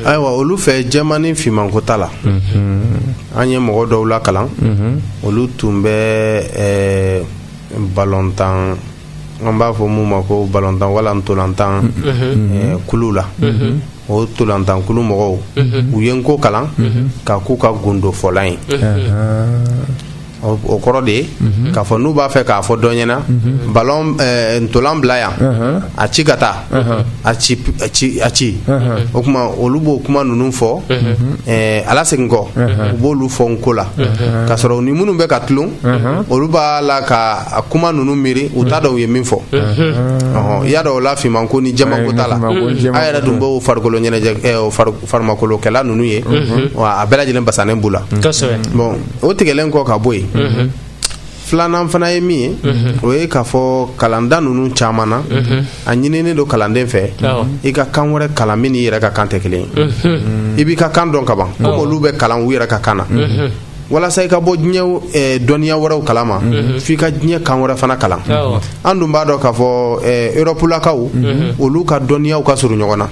ayiwa olu fɛ jɛman ni finmanko t'a la an ye mɔgɔ dɔw lakalan olu tun bɛ eh, balontan an b'a fɔ min ma ko balontan wala ntolantan eh, kulu la o ntolantan kulu mɔgɔw u ye nko kalan k'a k'u ka gundofɔlan ye o kɔrɔ de ye k'a fɔ n'u b'a fɛ k'a fɔ don ɲɛ na balon ntolan bila yan a ci ka taa a ci a ci o tuma olu b'o kuma ninnu fɔ wala segin kɔ u b'olu fɔ nko la ka sɔrɔ u ni minnu bɛ ka tulon olu b'a la ka kuma ninnu miiri u t'a dɔn u ye min fɔ i y'a dɔn o la finmanko ni jɛmanko t'a la a yɛrɛ dun b'o farikolo ɲɛnajɛ farimakolokɛla ninnu ye wa a bɛɛ lajɛlen basanen b'u la bon o tigɛlen kɔ ka bɔ yen filanan fana ye min ye o ye k'a fɔ kalanda ninnu caman na a ɲinini don kalanden fɛ i ka kan wɛrɛ kalan min i yɛrɛ ka kan tɛ kelen ye i b'i ka kan dɔn kaban ko olu bɛ kalan u yɛrɛ ka kan na walasa i ka bɔ diɲɛ dɔnniya wɛrɛw kala ma f'i ka diɲɛ kan wɛrɛ fana kalan an dun b'a dɔn k'a fɔ erɔpulakaw olu ka dɔnniyaw ka surun ɲɔgɔn na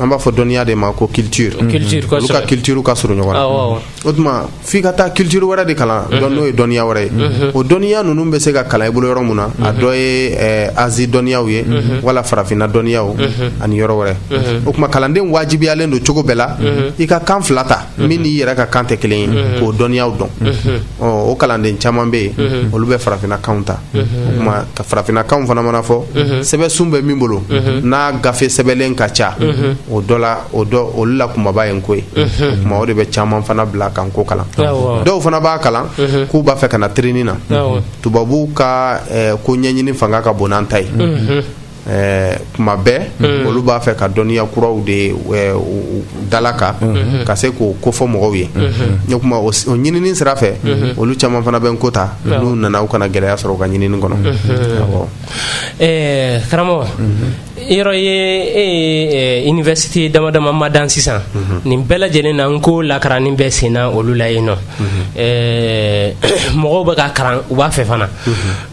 an b'a fɔ dɔnniya de ma ko culture u ka culture ka surun ɲɔgɔn na o tuma f'i ka taa culture wɛrɛ de kalan dɔn n'o ye dɔnniya wɛrɛ ye o dɔnniya ninnu bɛ se ka kalan i bolo yɔrɔ min na a dɔ ye asie dɔnniyaw ye wala farafinna dɔnniyaw ani yɔrɔ wɛrɛ o tuma kalanden wajibiyalen don cogo bɛɛ la i ka kan fila ta min n'i yɛrɛ ka kan tɛ kelen ye k'o dɔnniyaw dɔn o kalanden caman bɛ yen olu bɛ farafinnakan ta o tuma farafinnakan fana mana fɔ sɛbɛ sun bɛ min bolo n'a gafe sɛbɛlen ka ca o dɔ la o olu la kunbaba ye n ko ye o tuma o de bɛ caman fana bila ka n ko kalan dɔw fana b'a kalan k'u b'a fɛ ka na trin na tubabu ka ko ɲɛɲini fanga ka bon n'an ta ye ɛɛ tuma bɛɛ mm. olu b'a fɛ ka dɔnniya kuraw de dalaka mm-hmm. ka se k'o kofɔ mɔgɔw ye mm-hmm. o tuma o ɲinini sira fɛ mm-hmm. olu caman fana bɛ n ko ta n'u nana u kana gɛlɛya sɔrɔ u ka ɲinini kɔnɔ eh, karamɔgɔ yɔrɔ ye e ye eh, université dama dama madan sisan nin bɛɛ lajɛlen na n ko lakaranni bɛ senna olu la yen nɔ eh, mɔgɔw bɛ ka karan u b'a fɛ fana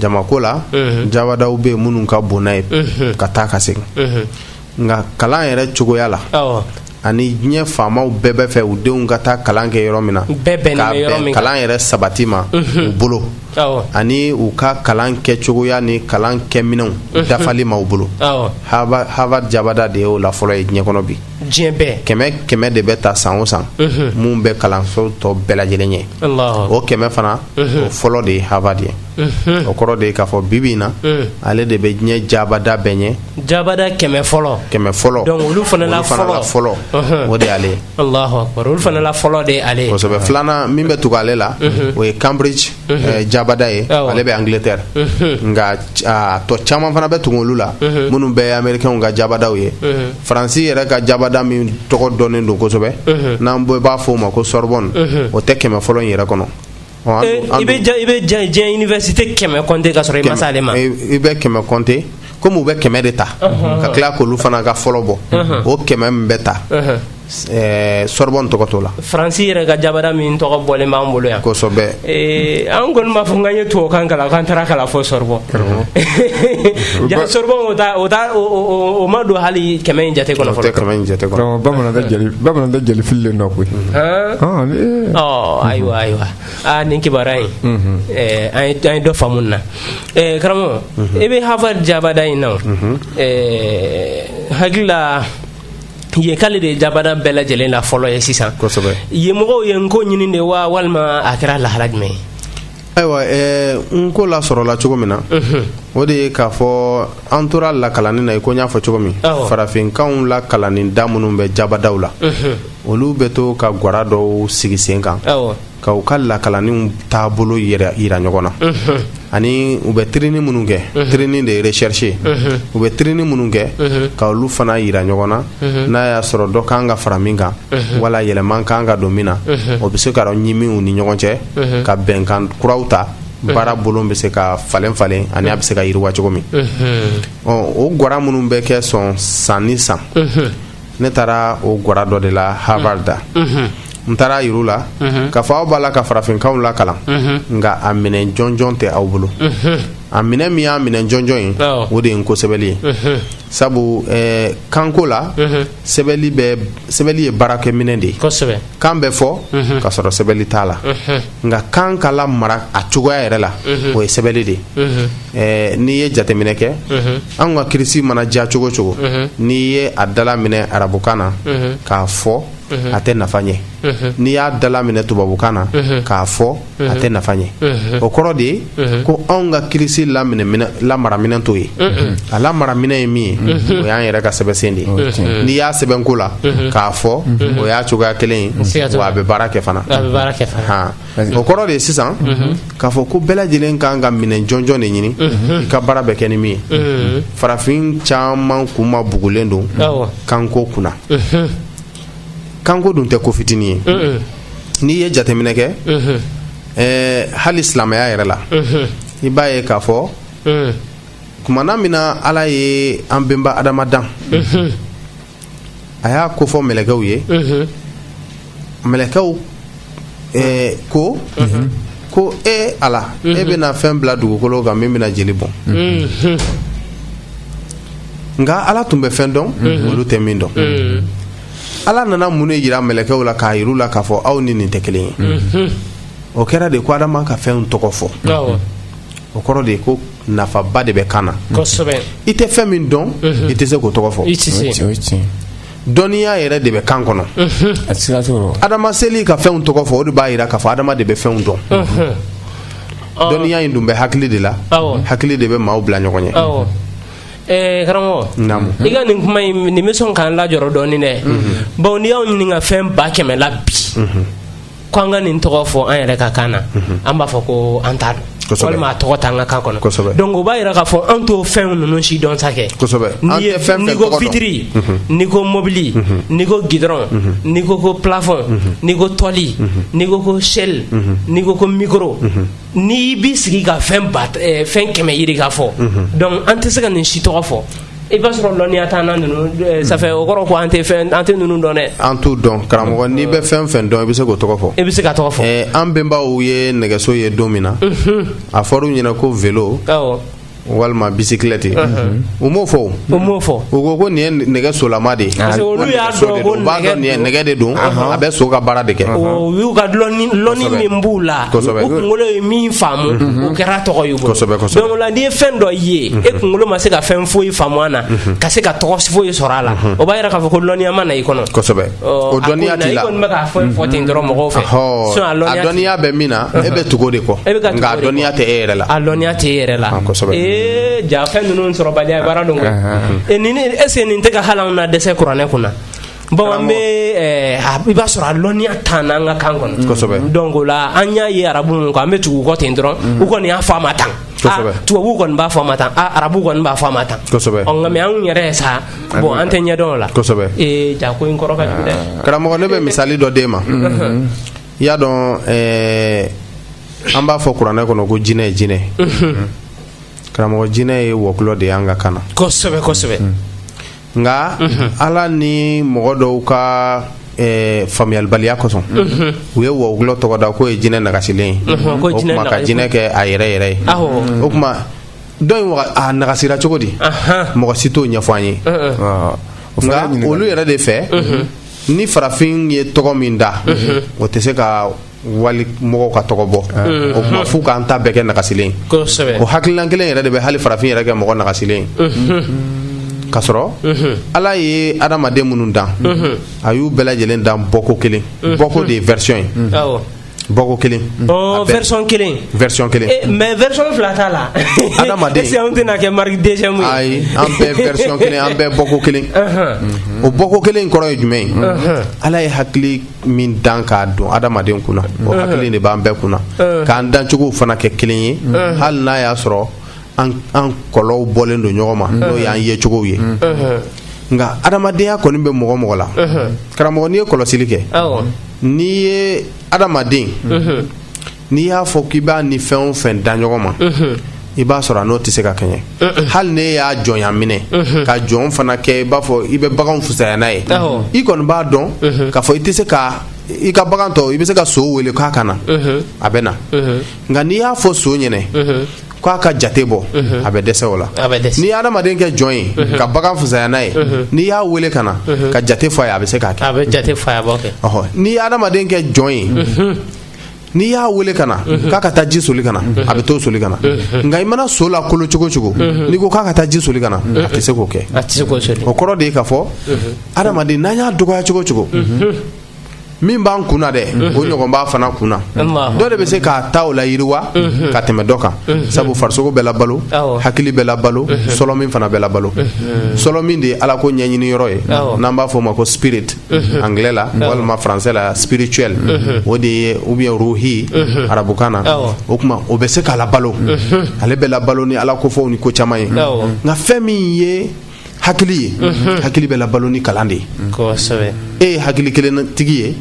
jama ko la jabadaw bɛ yen minnu ka bon n'a ye ka taa ka segin nka kalan yɛrɛ cogoya la ani diɲɛ faamaw bɛɛ b'a fɛ u denw ka taa kalan kɛ yɔrɔ min na kalan yɛrɛ sabati ma u bolo ani u ka kalan kɛ cogoya ni kalan kɛ minɛnw dafali ma u bolo harvard jabada de y'o la fɔlɔ ye diɲɛ kɔnɔ bi diɲɛ kɛmɛ kɛmɛ de bɛ ta san o san minnu bɛ kalanso tɔ bɛɛ lajɛlen ye o kɛmɛ fana o fɔlɔ de ye harvard ye o kɔrɔ de k'a fɔ bibi in na ale de bɛ diɲɛ jabada bɛɛ ɲɛ jabada kɛmɛ fɔlɔ kɛmɛ fɔlɔ olu fɔlɔ o de ale olu fana la fɔlɔ de ale filanan min bɛ tugu ale la o ye cambridge Eh, jabada ye ale bɛ angleterre nka a tɔ caman fana bɛ tugu olu la minnu bɛ amerikɛnw ka jabadaw ye faransi yɛrɛ ka jabada min tɔgɔ dɔnnen don kosɛbɛ n'an bɛɛ b'a fɔ o ma ko sorbonne o tɛ kɛmɛ fɔlɔ in yɛrɛ kɔnɔ eh, i bɛ diɲɛ université kɛmɛ kɔnte ka sɔrɔ i ma se ale ma eh, i bɛ kɛmɛ kɔnte komi u bɛ kɛmɛ de ta ka tila k'olu fana ka fɔlɔ bɔ o kɛmɛ min bɛ ta Eh, sɔrɔbɔn tɔgɔ t'o la faransi yɛrɛ ka jabada min tɔgɔ bɔlen b'an bolo yan kosɛbɛ eh, an kɔni b'a fɔ k'an ye tubabukan kalan k'an taara kalan fɔ sɔrɔbɔn jaa sɔrɔbɔn o ta o ta o ma don hali kɛmɛ in jate kɔnɔ fɔlɔ kɛmɛ in jate kɔnɔ bamanan tɛ jeli bamanan tɛ jeli fililen don koyi ɔ ayiwa ayiwa aa nin kibaruya in mhm. eh, an ye an ye dɔ faamu na karamɔgɔ mhm. i bɛ harvard jabada in na n hakili la ye k'ale de ye jabada bɛɛ lajɛlen na fɔlɔ ye sisan yen mɔgɔw ye nko ɲini de wa walima a kɛra lahala jumɛn ye ayiwa eh, nko lasɔrɔla cogo min na mhm. o de ye k'a fɔ an tora lakalanni na i ko n y'a fɔ cogo min farafinkanw lakalanni da minnu bɛ jabadaw la mhm. olu bɛ to ka gwara dɔw sigi sen kan ka u ka lakalanniw taabolo jira ɲɔgɔn na ani u bɛ tirinini minnu kɛ tirinini de ye recherche u bɛ tirinini minnu kɛ ka olu fana jira ɲɔgɔn na n'a y'a sɔrɔ dɔ ka kan ka fara min kan wala yɛlɛma ka kan ka don min na o bɛ se k'a rɔɲimi u ni ɲɔgɔn cɛ ka bɛnkan kuraw ta baara bolo bɛ se ka falen falen ani a bɛ se ka yiriwa cogo min ɔ o gwara minnu bɛ kɛ sɔn san ni san ne taara o gwara dɔ de la harvard n taara a jira u la k'a fɔ aw b'a la ka farafinkanw lakalan nka a minɛn jɔnjɔn tɛ aw bolo a minɛ min y'a minɛ jɔnjɔn ye o de ye nko sɛbɛnni ye sabu eh, kanko la sɛbɛnni bɛ sɛbɛnni ye baarakɛminɛ de ye kan bɛ fɔ ka sɔrɔ sɛbɛnni t'a la nka kan k'a lamara a cogoya yɛrɛ la o ye sɛbɛnni de ye eh, n'i ye jateminɛ kɛ an ka kirisi mana diya cogo o cogo n'i ye a dalaminɛ arabukan na k'a fɔ a tɛ nafa ɲɛ n'i y'a dalaminɛ tubabukan na k'a fɔ a tɛ nafa ɲɛ o kɔrɔ de ye ko anw ka kilisi lamaraminɛ t'o ye a lamaraminɛ ye min ye o y'an yɛrɛ ka sɛbɛnsen de ye n'i y'a sɛbɛn nko la k'a fɔ o y'a cogoya kelen ye wa a bɛ baara kɛ fana o kɔrɔ de ye sisan k'a fɔ ko bɛɛ lajɛlen ka kan ka minɛ jɔnjɔn de ɲini i ka baara bɛ kɛ ni min ye farafin caman kunma bugulen don kanko kunna kanko dun tɛ ko fitinin ye n'i ye jateminɛ kɛ hali silamɛya yɛrɛ la i b'a ye k'a fɔ tumana min na ala ye an bɛnba adama dan a y'a kofɔ mɛlɛkɛw ye mɛlɛkɛw ko ko e ala e bɛna fɛn bila dugukolo kan min bɛna jeli bɔn nka ala tun bɛ fɛn dɔn olu tɛ min dɔn ala nana mun ne jira mɛlɛkɛw la k'a jira u la k'a fɔ aw ni nin tɛ kelen ye o kɛra de ko adama ka fɛn tɔgɔ fɔ o kɔrɔ de ko nafaba de bɛ kan na i tɛ fɛn min dɔn i tɛ se k'o tɔgɔ fɔ dɔnniya yɛrɛ de bɛ kan kɔnɔ adama seli ka fɛnw tɔgɔ fɔ o de b'a jira k'a fɔ adama de bɛ fɛnw dɔn dɔnniya in dun bɛ hakili de la hakili de bɛ maaw bila ɲɔgɔn ɲɛ Eh, karamɔgɔ i ka nin kuma in nin bɛ sɔn k'an lajɔrɔ dɔɔnin dɛ bawo n'i y'an ɲininka fɛn ba kɛmɛ la bi ko an ka nin tɔgɔ fɔ an yɛrɛ ka kan na an b'a fɔ ko an t'a dɔn walima a tɔgɔ t'an ka kan kɔnɔ donc o b'a jira k'a fɔ an t'o fɛn ninnu si dɔn sa kɛ n'i ye n'i ko fitiri mhm. n'i ko mobili mhm. n'i ko gidɔrɔn mhm. n'i ko ko plafɔn n'i ko tɔli n'i ko ko shell n'i ko ko mikoro n'i b'i sigi ka fɛn ba eh, fɛn kɛmɛ yiri ka fɔ donc an tɛ se ka nin si tɔgɔ fɔ i b'a sɔrɔ lɔnniya t'an na ninnu eh, ça fait o kɔrɔ ko an tɛ fɛn an tɛ ninnu dɔn dɛ an t'u dɔn karamɔgɔ n'i bɛ fɛn fɛn dɔn i bɛ se k'o tɔgɔ fɔ i bɛ se k'a tɔgɔ fɔ eh, an bɛnbaw ye nɛgɛso ye don min na mhm. a fɔr'u ɲɛna ko velo awɔ walima bisikilɛti mhm. u m'o fɔ u m'o fɔ u ko ko nin ye nɛgɛ solama de ye parce que olu y'a dɔn ko b'a dɔn nin ye nɛgɛ de don a bɛ so ka baara de kɛ u y'u ka lɔnni min b'u la u kunkolo ye min faamu mhm. o kɛra tɔgɔ ye n'i ye fɛn dɔ ye e kunkolo ma se ka fɛn foyi faamu a na ka se ka tɔgɔ foyi sɔrɔ a la o b'a jira k'a fɔ ko dɔnniya ma na i kɔnɔ dɔnniya bɛ min na e bɛ tugu o de kɔ e dɔnniya tɛ e yɛrɛ la a dɔnniya tɛ e yɛrɛ la ja fɛn ninnu sɔrɔ dɔn ese nin tɛ ka ha na dɛsɛse kuranɛ kunna na Bɔn bɛ i b'a sɔrɔ a lɔnniya t'an na an ka kan kɔnɔ donc là an y'a ye arabu min an bɛ tugu kɔ ten dɔrɔn u kɔni y'a fɔ a ma tan tubabu kɔni b'a fɔ a ma tan arabu kɔni b'a fɔ a ma tan nka anw yɛrɛ sa bɔn an t'a ɲɛdɔn la ja ko in kɔrɔ dɛ karamɔgɔ ne bɛ misali dɔ d'i ma i y'a dɔn an b'a fɔ kuranɛ kɔnɔ ko jinɛ ye jinɛ karamɔgɔ jinɛ ye wɔkulɔ de ye an ka kan na nka ala ni mɔgɔ dɔw ka faamuyalibaliya kosɔn u ye wɔkulɔ tɔgɔ da k'o ye jinɛ nagasilen ye o tuma ka jinɛ kɛ a yɛrɛ yɛrɛ ye o tuma dɔw in a nagasira cogo di mɔgɔ si t'o ɲɛfɔ an ye nka olu yɛrɛ de fɛ ni farafin ye tɔgɔ min da o tɛ se ka wali mɔgɔw ka tɔgɔ bɔ o kama f'u k'an ta bɛɛ kɛ nagasilen ye kosɛbɛ o hakilina kelen yɛrɛ de bɛ hali farafin yɛrɛ kɛ mɔgɔ nagasilen ye ka sɔrɔ ala ye adamaden minnu dan a y'u bɛɛ lajɛlen dan bɔko kelen bɔko de ye version ye awɔ bɔko kelen ɔ A bɛɛ- version kelen version kelen Eh, mais version fila t'a la Adamaden. est-ce que anw tɛna kɛ marque deuxième ye ayi an bɛɛ version kelen an bɛɛ bɔko kelen o bɔko kelen in kɔrɔ ye jumɛn ye ala ye hakili min dan k'a don adamaden kunna o hakili de b'an bɛɛ kunna k'an dancogo fana kɛ kelen ye hali n'a y'a sɔrɔ an golow bɔlen don ɲɔgɔn ma n'o y'an yecogo ye nka adamadenya kɔni bɛ mɔgɔ mɔgɔ la karamɔgɔ n'i ye kɔlɔsili kɛ n'i ye adamaden n'i y'a fɔ k'i b'a ni fɛn o fɛn da ɲɔgɔn ma i b'a sɔrɔ a n'o tɛ se ka kɛɲɛ hali n'e y'a jɔnya minɛ ka jɔn fana kɛ i b'a fɔ i bɛ bagan fusaya n'a ye i kɔni b'a dɔn k'a fɔ i tɛ se ka i ka bagan tɔ i bɛ se ka so wele k'a ka na a bɛ na nka n'i y'a fɔ so ɲɛna k'a ka jate bɔ a bɛ dɛsɛ o la n'i ye adamaden kɛ jɔn ye ka bagan fusaya n'a ye n'i y'a wele ka na ka jate fɔ a ye a bɛ se k'a kɛ n'i ye adamaden kɛ jɔn ye n'i y'a weele ka na k'a ka taa ji soli ka na a bɛ t'o soli ka na nka i mana so lakolo cogo cogo n'i ko k'a ka taa ji soli ka na a tɛ se k'o kɛ o kɔrɔ de ye k'a fɔ adamaden n'an y'a dɔgɔya cogo cogo min b'an kun na dɛ o ɲɔgɔn b'a fana kun na dɔ de bɛ se k'a ta o layiriwa ka tɛmɛ dɔ kan sabu farisogo bɛ labalo hakili bɛ labalo sɔlɔmin fana bɛ labalo sɔlɔmin de ye ala ko ɲɛɲini yɔrɔ ye n'an b'a fɔ o ma ko spirit Mhm. anglais la mhm. walima français la spirituel mhm. o de ye ou bien ruhi arabukan na o tuma o bɛ se ka labalo ale bɛ labalo ni ala kofɔw ni ko caman ye nka fɛn min ye hakili ye hakili bɛ labalo ni kalan de ye e ye hakili kelen tigi ye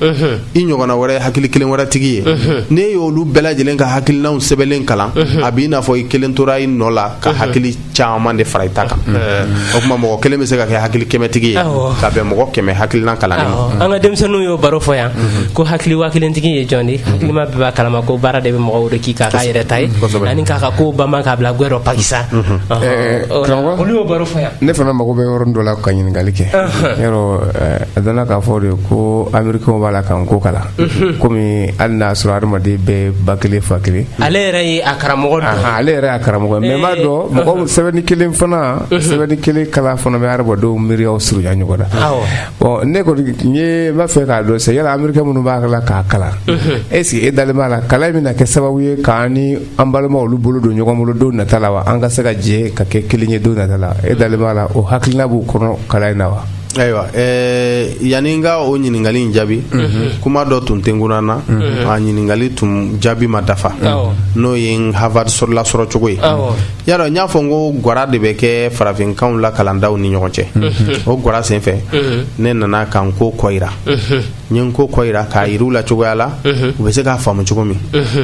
i ɲɔgɔnna wɛrɛ hakili kelen wɛrɛ tigi ye n'e y'olu bɛɛ lajɛlen ka hakilinaw sɛbɛnlen kalan a b'i n'a fɔ i kelen tora i nɔ la ka hakili caman de fara i ta kan o tuma mɔgɔ kelen bɛ se ka kɛ hakili kɛmɛtigi ye ka bɛn mɔgɔ kɛmɛ hakilina kalan ma an ka denmisɛnninw y'o baro fɔ yan ko hakili waa kelentigi ye jɔn di hakilima bɛɛ b'a kalama ko baara de bɛ mɔgɔw de k'i k'a ka yɛrɛta ye ani k'a ka ko bamban k'a bila gwɛ rɔ pakisa olu y'o baro fɔ yan ne fana mago bɛ yɔrɔ dɔ la ka ɲininkali kɛ yɔrɔ a dana k'a fɔ de ko americain b'a la ka nko kalan kɔmi hali n'a sɔrɔ adamaden bɛɛ ba kelen fa kelen ale yɛrɛ ye a karamɔgɔ dɔ ale yɛrɛ a karamɔgɔ mɛ b'a dɔn mɔgɔ sɛbɛnni kelen fana sɛbɛnni kelen kalan fana bɛ adamadenw miiriyaw surunya ɲɔgɔn na ɔ ne kɔni n ye b'a fɛ k'a dɔn sɛ yala amerikɛ minnu b'a la k'a kalan e sigi e dalen b'a la kalan bɛna kɛ sababu ye k'an ni an balima olu bolo don ɲɔgɔn bolo don nata la wa an ka se ka jɛ ka kɛ kelen ye don nata la e dalen b'a la o hakilina b'u kɔnɔ kalan in na wa ayiwa yanani n ka o ɲininkali in jaabi kuma dɔ tun tɛ kunna na a ɲininkali tun jaabi ma dafa n'o ye n Harvard lasɔrɔ cogo ye yadɔ n y'a fɔ n ko gwara de bɛ kɛ farafinkan lakalandaw ni ɲɔgɔn cɛ o gwara senfɛ ne nana ka nko kɔyira n ye nko ko jira k'a jira u la cogoya la u bɛ se k'a faamu cogo min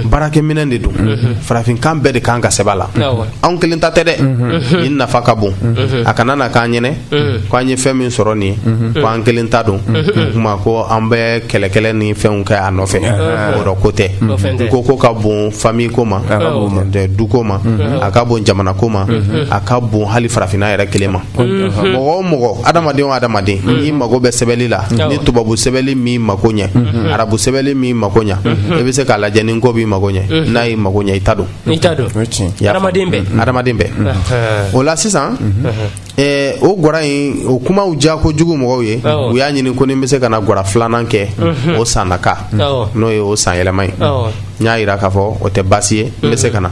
baarakɛminɛn de don farafinkan bɛɛ de kan ka sɛbɛn a la anw kelen ta tɛ dɛ nin nafa ka bon a kana na k'an ɲɛna ko an ye fɛn min sɔrɔ nin ye ko an kelen ta don o tuma ko an bɛ kɛlɛkɛlɛ ni fɛnw kɛ a nɔfɛ o yɔrɔ ko tɛ nko ko ka bon famille ko ma duko ma a ka bon jamana ko ma a ka bon hali farafinna yɛrɛ kelen ma mɔgɔ o mɔgɔ adamaden o adamaden n'i mago bɛ sɛbɛnli la ni tubabu sɛbɛnli m'i mako ɲɛ arabu sɛbɛnli m'i mako ɲɛ e bɛ se k'a lajɛ ni nko b'i mako ɲɛ n'a y'i mako ɲɛ i ta don adamaden bɛɛ o la sisan o gwara in o kumaw diyakojugu mɔgɔw ye u y'a ɲini ko ni n bɛ se ka na gwara filanan kɛ o san nata n'o ye o san yɛlɛma ye n y'a jira k'a fɔ o tɛ baasi ye n bɛ se ka na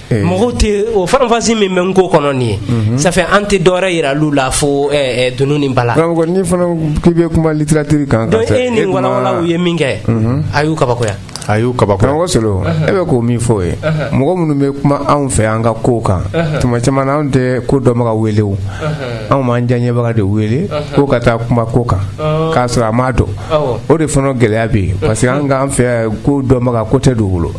mɔgɔw tɛ o faranfasi min bɛ nko kɔnɔ nin ye sanfɛ an tɛ dɔwɛrɛ yira u la fo dunun ni bala karamɔgɔ n'i fana k'i bɛ kuma litiratiri kan donc e ni walawala u ye minkɛ a y'u kabakoya a y'u kaba karamɔgɔ solo e bɛ ko min fɔ o ye mɔgɔ minnu bɛ kuma anw fɛ an ka ko kan tuma caman anw tɛ ko dɔnbaga wele o anw b'an diyaɲɛbaga de wele ko ka taa kuma ko kan k'a sɔrɔ a m'a dɔn o de fana gɛlɛya bɛ yen parce que an k'an fɛ ko dɔnbaga ko tɛ don bolo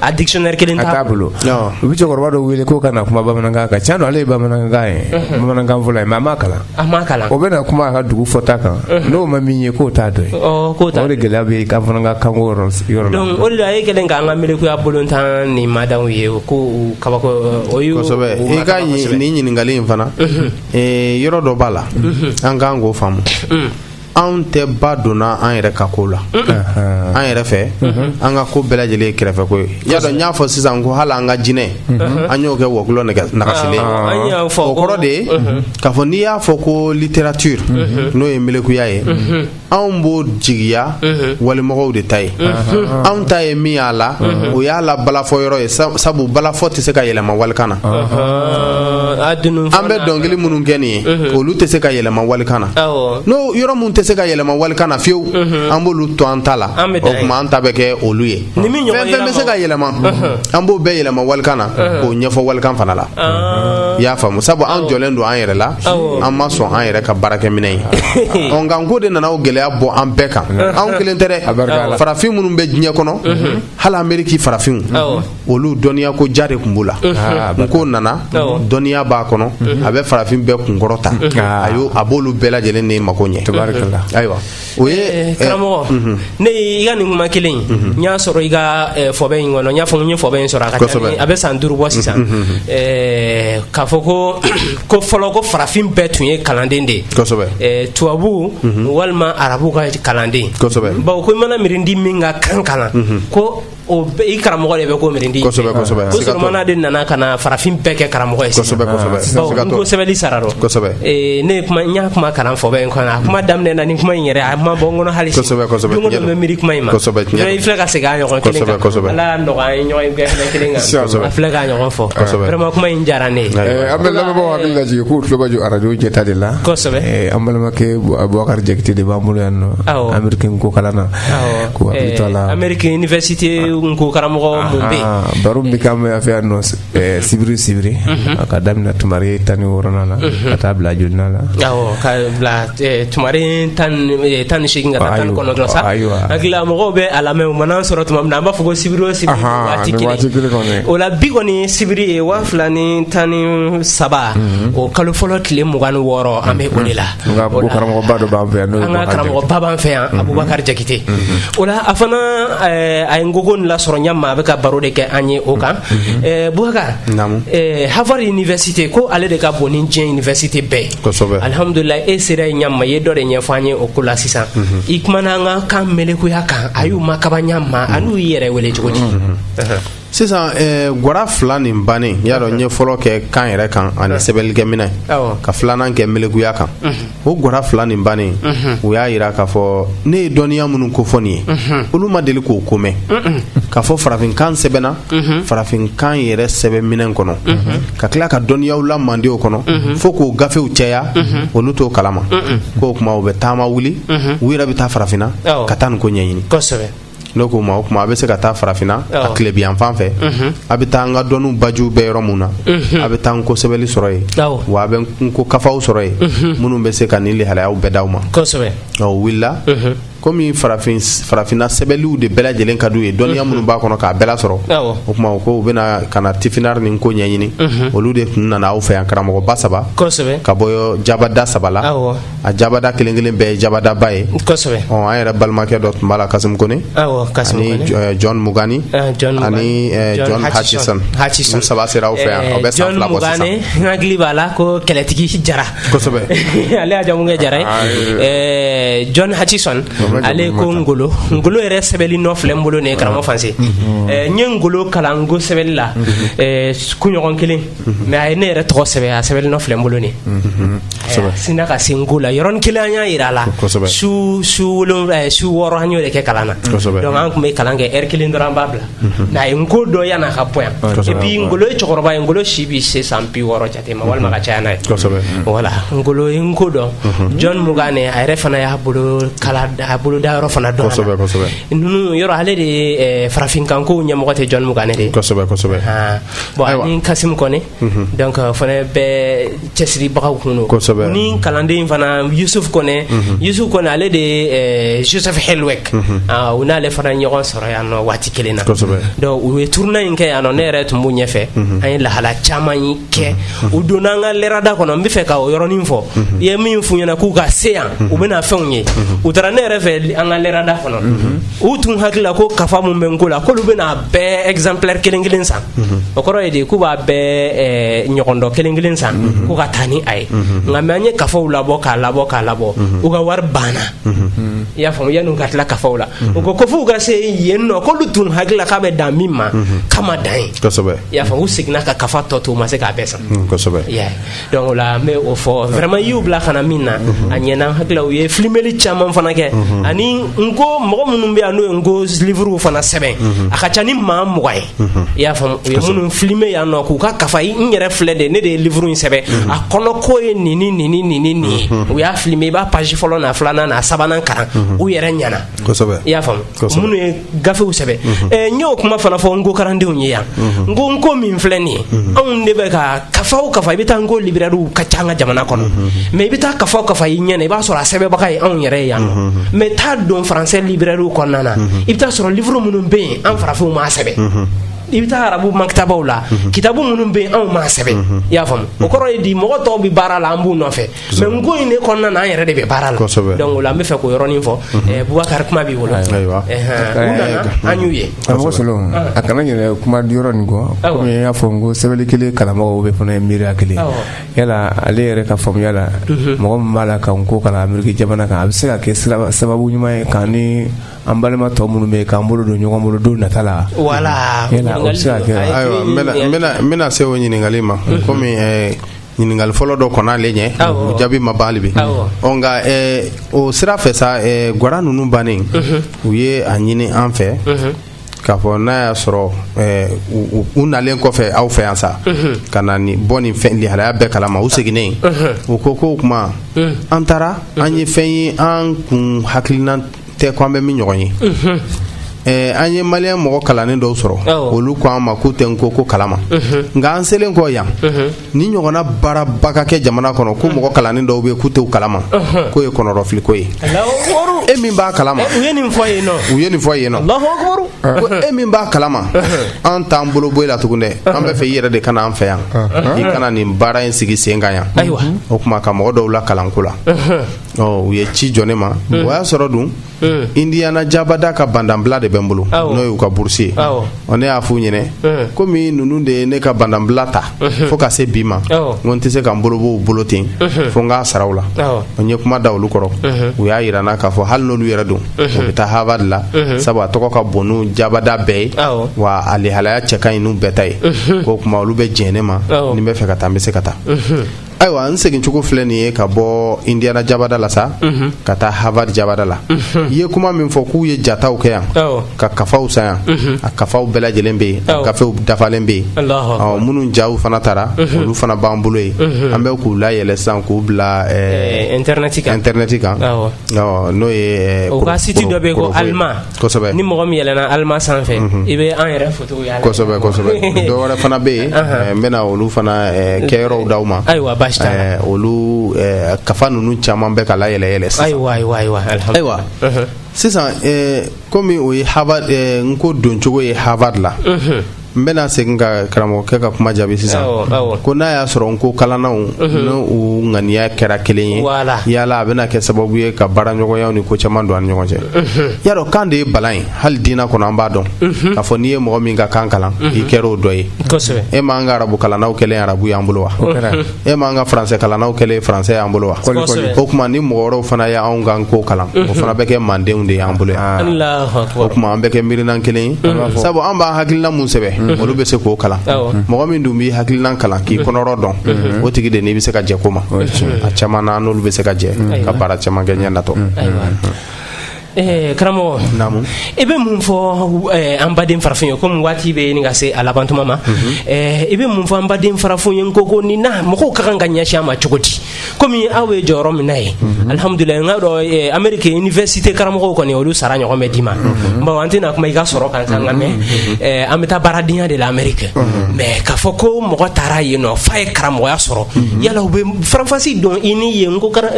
A dictionnaire kelen t'a bolo, a t'a bolo, non, u bɛ cɛkɔrɔba dɔ wele k'o ka na kuma bamanankan kan tiɲɛ don ale ye bamanankan ye, unhun, bamanankan fɔla ye mais a m'a kalan, a m'a kalan, o bɛna kuma a ka dugu fɔta kan, unhun, n'o ma min ye k'o t'a dɔn ye, ɔ k'o t'a dɔn, o de gɛlɛya b'an fɛ an ka kanko yɔrɔ yɔrɔ la, donc o de la e kɛlen k'an ka melekuya bolon tan nin madan u ye o k'u kabakoya kosɛbɛ i ka nin ɲininkali in fana, unhun, ee yɔrɔ dɔ b'a la, unhun, an kan k'o faamu, unhun anw tɛ ba donna an yɛrɛ ka ko la an yɛrɛ fɛ an ka ko bɛɛ lajɛlen ye kɛrɛfɛko ye i y'a dɔn n y'a fɔ sisan ko hali an ka jinɛ an y'o kɛ wɔkulɔ nagasilen ah, o kɔrɔ de ye k'a fɔ n'i y'a fɔ ko littérature n'o ye melekuya ye anw b'o jigiya walimɔgɔw de ta ye anw ta ye min y'a la o y'a la balafɔ yɔrɔ ye sabu balafɔ tɛ se ka yɛlɛma walikan na an bɛ dɔnkili minnu kɛ nin ye olu tɛ se ka yɛlɛma walikan na n'o yɔrɔ minnu tɛ se ka yɛlɛma walikan na fiyewu an b'olu to an ta la o tuma an ta bɛ kɛ olu ye fɛn fɛn bɛ se ka yɛlɛma an b'o bɛɛ yɛlɛma walikan na k'o ɲɛfɔ walikan fana la ah. i y'a faamu sabu an jɔnnen don an yɛrɛ la an ma sɔn an yɛrɛ ka baarakɛminɛn ye ɔ nka nko de nana o gɛlɛya bɔ an bɛɛ kan anw kelen tɛ dɛ farafin minnu bɛ diɲɛ kɔnɔ hali ameriki farafinw olu dɔnniya ko ja de tun b'u la nko nana dɔnniya b'a kɔnɔ a bɛ farafin bɛɛ kunkɔrɔta a a b'olu bɛɛ lajɛlen ni mako ɲɛ ayiwa o ye karamɔgɔ ne i ka nin kuma kelen n y'a sɔrɔ i ka fɔbɛ in kɔnɔ n y'a fɔ n ye fɔbɛ in sɔrɔ a ka a bɛ san duuru bɔ sisan k'a fɔ ko ko fɔlɔ ko farafin bɛɛ tun ye kalanden de ye tubabu walima arabu ka kalanden bawo ko mana miiridi min ka kan kalan ko O i karamɔgɔ de bɛ ko mindi mana de nana ka na farafin bɛɛ kɛ karamɔgɔ ye sɛbɛn sara ne kuma n y'a kuma kalan fɔ in kɔnɔ a kuma daminɛ na ni kuma in yɛrɛ a ma bɔ kɔnɔ hali bɛ miiri kuma in ma filɛ ka segin ɲɔgɔn kelen filɛ ka ɲɔgɔn fɔma kuma in diyara ne an bɛ lajɛ k'u tulomajɔ arajo ɲɛta de la an balimakɛ bukari jakite de b'an bolo yan nɔ nko kalan na karamɔgɔmɔgɔfɛ sibiri sibiri ka daminɛ tu tan ni wɔɔrɔ la ka taa bila j na tu tan tan ni segin tan kɔnɔ sa ayiwa mɔgɔw bɛ a lamɛn u ma sɔrɔ tuma min na an b'a fɔ ko sibiri o la bi kɔni sibiri ye waa fila ni tan ni saba o kalo fɔlɔ tile mugan ni wɔɔrɔ an bɛ o de la Karamɔgɔba b'an fɛ yan karamɔgɔba b'an fɛ yan abubakari jakite o a fana a ye nko ko lasɔrɔ ɲɛ maa a bɛ ka baro de kɛ an ye o kan bukari harvard université ko ale de ka bon ni diɲɛ université bɛɛ alihamdulila e sera ɲɛma ye dɔ de ɲɛfɔ an ye o ko la sisan i kumana an ka kan melekuya kan a y'u makaba ɲɛ ma ani u y'i yɛrɛ wele cogo di sisan eh, gwara fila nin bannen y'a dɔn n ye fɔlɔ kɛ kan yɛrɛ kan ani sɛbɛnnikɛminɛn ka filanan kɛ melekuya kan o gwara fila nin bannen u y'a yira k'a fɔ ne ye dɔnniya minnu kofɔ nin ye olu ma deli k'o ko mɛn k'a fɔ farafinkan sɛbɛnna farafinkan yɛrɛ sɛbɛnminɛn kɔnɔ ka tila ka dɔnniyaw la mandenw kɔnɔ fo k'o gafew cɛya olu t'o kalama k'o tuma u bɛ taama wuli u yɛrɛ bɛ taa farafinna ka taa nko ɲɛɲini N'o ko ma o tuma a bɛ se ka taa farafinna a tilebinyanfan fɛ a bɛ taa an ka dɔn baju bɛ yɔrɔ min na a bɛ taa nko sɛbɛli sɔrɔ yen wa a bɛ nko kafaw sɔrɔ yen minnu bɛ se ka nin lahalayaw bɛɛ d'aw ma wulila kɔmi farafin farafinna sɛbɛliw de bɛɛ lajɛlen ka ye dɔnniya minnu b'a kɔnɔ k'a bɛɛ lasɔrɔ o tuma k'u bɛna ka na tifinagh ni nko ɲɛɲini olu de tun nana aw fɛ yan karamɔgɔba saba ka bɔ jabada saba a jabada kelen kelen bɛɛ ye jabadaba ye kosɛbɛ ɔ an yɛrɛ balimakɛ dɔ tun b'a la kasim kone awɔ kasim kone ani eh, john mugani eh, john ani eh, john hutchison hutchison saba sera aw fɛ yan a bɛ san fila bɔ sisan john mugani n hakili b'a la ko kɛlɛtigi jara kosɛbɛ ale y'a jamu kɛ jara ye ah, john hutchison ale ko ngolo ngolo yɛrɛ sɛbɛli nɔ filɛ n bolo nin ye karamɔgɔ fanse n ye ngolo kalan n ko sɛbɛli la kunɲɔgɔn kelen mɛ a ye ne yɛrɛ tɔgɔ sɛbɛn a sɛbɛn nɔ filɛ bolo sin ka sin n ko la yɔrɔnin kelen an y'a jira a la su su su wɔɔrɔ an yɛrɛ kɛ kalan na an tun bɛ kalan kɛ lɛri kelen dɔrɔn an b'a bila nka a ye n ko dɔn yan ka bɔ yan e bi ngolo cɛkɔrɔba ye ngolo si bɛ se san bi wɔɔrɔ jate ma walima ka caya n'a ye wala ngolo n ko dɔn jɔn mugani a yɛrɛ fana y'a bolo kala a bolo da yɔrɔ fana dɔn ninnu yɔrɔ ale de farafinkanko ɲɛmɔgɔ tɛ jɔn mugani de Bon Ayiwa. ani kasimu kɔni donc o fana bɛɛ cɛsiribagaw tun don Kosɛbɛ. U ni kalanden in fana yusuf kɔnɛ yusuf kɔnɛ ale de ye eh, joseph hellweg Ah, u n'ale fana ɲɔgɔn sɔrɔ yan nɔ waati kelen na Kosɛbɛ. donc u ye turuna in kɛ yan nɔ ne yɛrɛ tun b'u ɲɛfɛ an ye lahala caman yi kɛ u donna an ka lɛrada kɔnɔ n bɛ fɛ ka o yɔrɔnin fɔ i ye min f'u ɲɛna k'u ka se yan u bɛna fɛnw ye u taara ne yɛrɛ fɛ an ka lɛrada kɔnɔ u tun hakili la ko kafa min bɛ n ko la k'olu bɛna bɛɛ exemplaire kelen kelen san mhm. o kɔrɔ ye de k'u b'a bɛɛ eh, ɲɔgɔndɔ kelen kelen san mhm. k'u ka taa ni a ye mhm. nka mɛ an ye kafaw labɔ k'a labɔ k'a labɔ u ka wari banna i y'a faamu yanni u ka tila kafaw la u ko ko f'u ka se yen nɔ k'olu tun hakili la k'a bɛ dan min ma k'a ma dan yen i y'a faamu u seginna ka kafa tɔ to u ma se k'a bɛɛ san donc o la n bɛ o fɔ vraiment i y'u bila ka na min na a ɲɛna n hakili la u ye filimeli caman fana kɛ ani n ko mɔgɔ minnu bɛ yan n'u ye n ko livre fana sɛbɛn a ka ca ni maa mugan ye i y'a faamu u ye minnu filime yan nɔ k'u ka kafa i- n yɛrɛ filɛ de ne de ye livre in sɛbɛn a kɔnɔ ko ye nin ni nin ni nin ni nin ye u y'a filime i b'a page fɔlɔ n'a filanan n'a sabanan kalan u yɛrɛ ɲɛna kosɛbɛ i y'a faamu Kosɛbɛ. minnu ye gafew sɛbɛn mhm. eh, n y'o kuma fana fɔ n ko karandenw ye yan mhm. n ko n ko min filɛ nin ye mhm. anw de bɛ ka kafa o kafa i bɛ taa n ko libirariw ka ca an ka jamana kɔnɔ mɛ i bɛ taa kafa o kafa i ɲɛ na i b'a sɔrɔ a sɛbɛnbaga ye anw yɛrɛ ye yan nɔ mɛ taa don faransɛ libirariw kɔnɔna na i bɛ taa sɔrɔ livuru minnu bɛ yen an farafinw m'a sɛbɛn i bɛ taa arabu makitabaw la kitabu minnu bɛ yen anw m'a sɛbɛn i y'a faamu o kɔrɔ ye di mɔgɔ tɔw bɛ baara la an b'u nɔfɛ mɛ n ko in de kɔnɔna na an yɛrɛ de bɛ baara la donc an bɛ fɛ k'o yɔrɔnin fɔ mhm. bubakari kuma b'i bolo an y'u ye a kana yɛrɛ kuma di yɔrɔ nin kɔ kɔmi i y'a fɔ n ko sɛbɛn kelen karamɔgɔ bɛ fana ye miiriya kelen yala ale yɛrɛ ka faamuya la mhm. mɔgɔ min b'a la ka n ko kalan ameriki jamana kan a bɛ se ka kɛ sababu ɲuman ye ka ni an balima tɔ minnu bɛ k'an bolo don ɲɔgɔn bolo don nata la wala bɛna se o ɲininkali ma mhm. kɔmi ɲininkali fɔlɔ dɔ kɔnɔ ale ɲɛ o jaabi ma ban bi nka o sira fɛ sa gwara ninnu bannen u ye a ɲini an fɛ k'a fɔ n'a y'a sɔrɔ u nalen kɔfɛ aw fɛ yan sa ka na nin bɔ nin fɛn lihalaya bɛɛ kalama u seginnen u ko ko o tuma an taara an ye fɛn ye an kun hakilina tɛ ko an bɛ min ɲɔgɔn ye Eh, an ye maliyɛn mɔgɔ kalannen dɔw sɔrɔ Awɔ. olu ko an ma k'u tɛ n ko ko kalama nka an selen kɔ yan nin ɲɔgɔnna baaraba ka kɛ jamana kɔnɔ ko mɔgɔ kalannen dɔw bɛ yen k'u tɛ o kalama k'o ye kɔnɔrɔfiliko ye Alahu akubaru. e min b'a kalama U ye nin fɔ yen nɔ. u ye nin fɔ yen nɔ Alahu akubaru. ko e min b'a kalama an t'an bolo bɔ e la tugun dɛ an b'a fɛ i yɛrɛ de ka na an fɛ yan i ka na nin baara in sigi sen kan yan Ayiwa. o tuma ka mɔgɔ dɔw lakalan n ko la u ye ci jɔ ne ma o y'a sɔrɔ dun indiana jabada ka bandanbila de bɛ n bolo n'o y'u ka burusi ye ne y'a f'u ɲɛna komi ninnu de ye ne ka bandanbila ta fo ka se bi ma ko n tɛ se ka n bolo bɔ u bolo ten fo n k'a sara u la n ye kuma da olu kɔrɔ u y'a jira n na k'a fɔ hali n'olu yɛrɛ don u bɛ taa Harvard la sabu a tɔgɔ ka bon n'u jabada bɛɛ ye wa a lihalaya cɛ ka ɲi n'u bɛɛ ta ye k'o tuma olu bɛ jɛn ne ma ni n b'a fɛ ka taa n bɛ se ka taa ayiwa n segincogo filɛ nin ye ka bɔ indiana jabada la sa mhm. ka taa harvard jabada la mhm. i ye kuma min fɔ k'u ye jataw kɛ yan ka kafaw san yan mhm. a kafaw bɛɛ lajɛlen bɛ yen a gafew dafalen bɛ yen minnu jaw fana tara olu fana b'an bolo yen an bɛ k'u layɛlɛ sisan k'u bila eh, eh, intɛrnɛti kan n'o ye eh, u ka siti dɔ bɛ yen ko alima kosɛbɛ ni mɔgɔ min yɛlɛna alima sanfɛ mhm. i bɛ an yɛrɛ foto y'a la kosɛbɛ kosɛbɛ dɔ wɛrɛ fana bɛ yen eh, n bɛna olu fana eh, kɛyɔrɔw d'aw ma ayiwa baasi t'a la eh, olu kafa ninnu caman bɛ ka layɛlɛ yɛlɛ sisan ayiwa ayiwa ayiwa ayiwa mhm. sisan komi o ye Harvard n ko doncogo ye Harvard la mhm. n bɛna segin ka karamɔgɔkɛ ka kuma jaabi sisan ko n'a y'a sɔrɔ n ko kalannaw n'u ŋaniya kɛra kelen ye yala a bɛna kɛ sababu ye ka baaraɲɔgɔnyaw ni ko caman don an ni ɲɔgɔn cɛ y'a dɔn kan de ye balan ye hali diinɛ kɔnɔ an b'a dɔn k'a fɔ n'i ye mɔgɔ min ka kan kalan i kɛra o dɔ ye e m'an ka arabu kalannaw kɛlen arabu y'an bolo wa e m'an ka français kalannaw kɛlen français y'an bolo wa o tuma ni mɔgɔ wɛrɛw fana ye anw ka n ko kalan o fana bɛ kɛ mandenw de y'an bolo yan o tuma an bɛ kɛ miirina kelen ye sabu an b'an hakilina mun sɛbɛn olu bɛ se k'o kalan mɔgɔ min dun b'i hakilina kalan k'i kɔnɔrɔ dɔn o tigi de n'i bɛ se ka jɛ ko ma a caman na an n'olu bɛ se ka jɛ ka baara caman kɛ ɲɛ natɔ Eh, karamɔgɔ i bɛ mun fɔ eh, an baden farafin ye komi waati bɛ ɲini ka se a labantuma ma mhm. eh, i bɛ mun fɔ an baden farafin ye ko n'ko nin na mɔgɔw ka kan ka ɲɛsin a ma cogo di komi aw ye jɔyɔrɔ min na yen mhm. alihamudulila n ka dɔn ameriki universite karamɔgɔw kɔni olu sara ɲɔgɔn bɛ d'i ma mhm. bon an tɛna kuma i ka sɔrɔ kan kan nka mɛ an bɛ taa baaradenya de la ameriki mɛ k'a fɔ ko mɔgɔ taara yen nɔ f'a ye karamɔgɔya sɔrɔ yala u bɛ faranfasi don i ni yen ka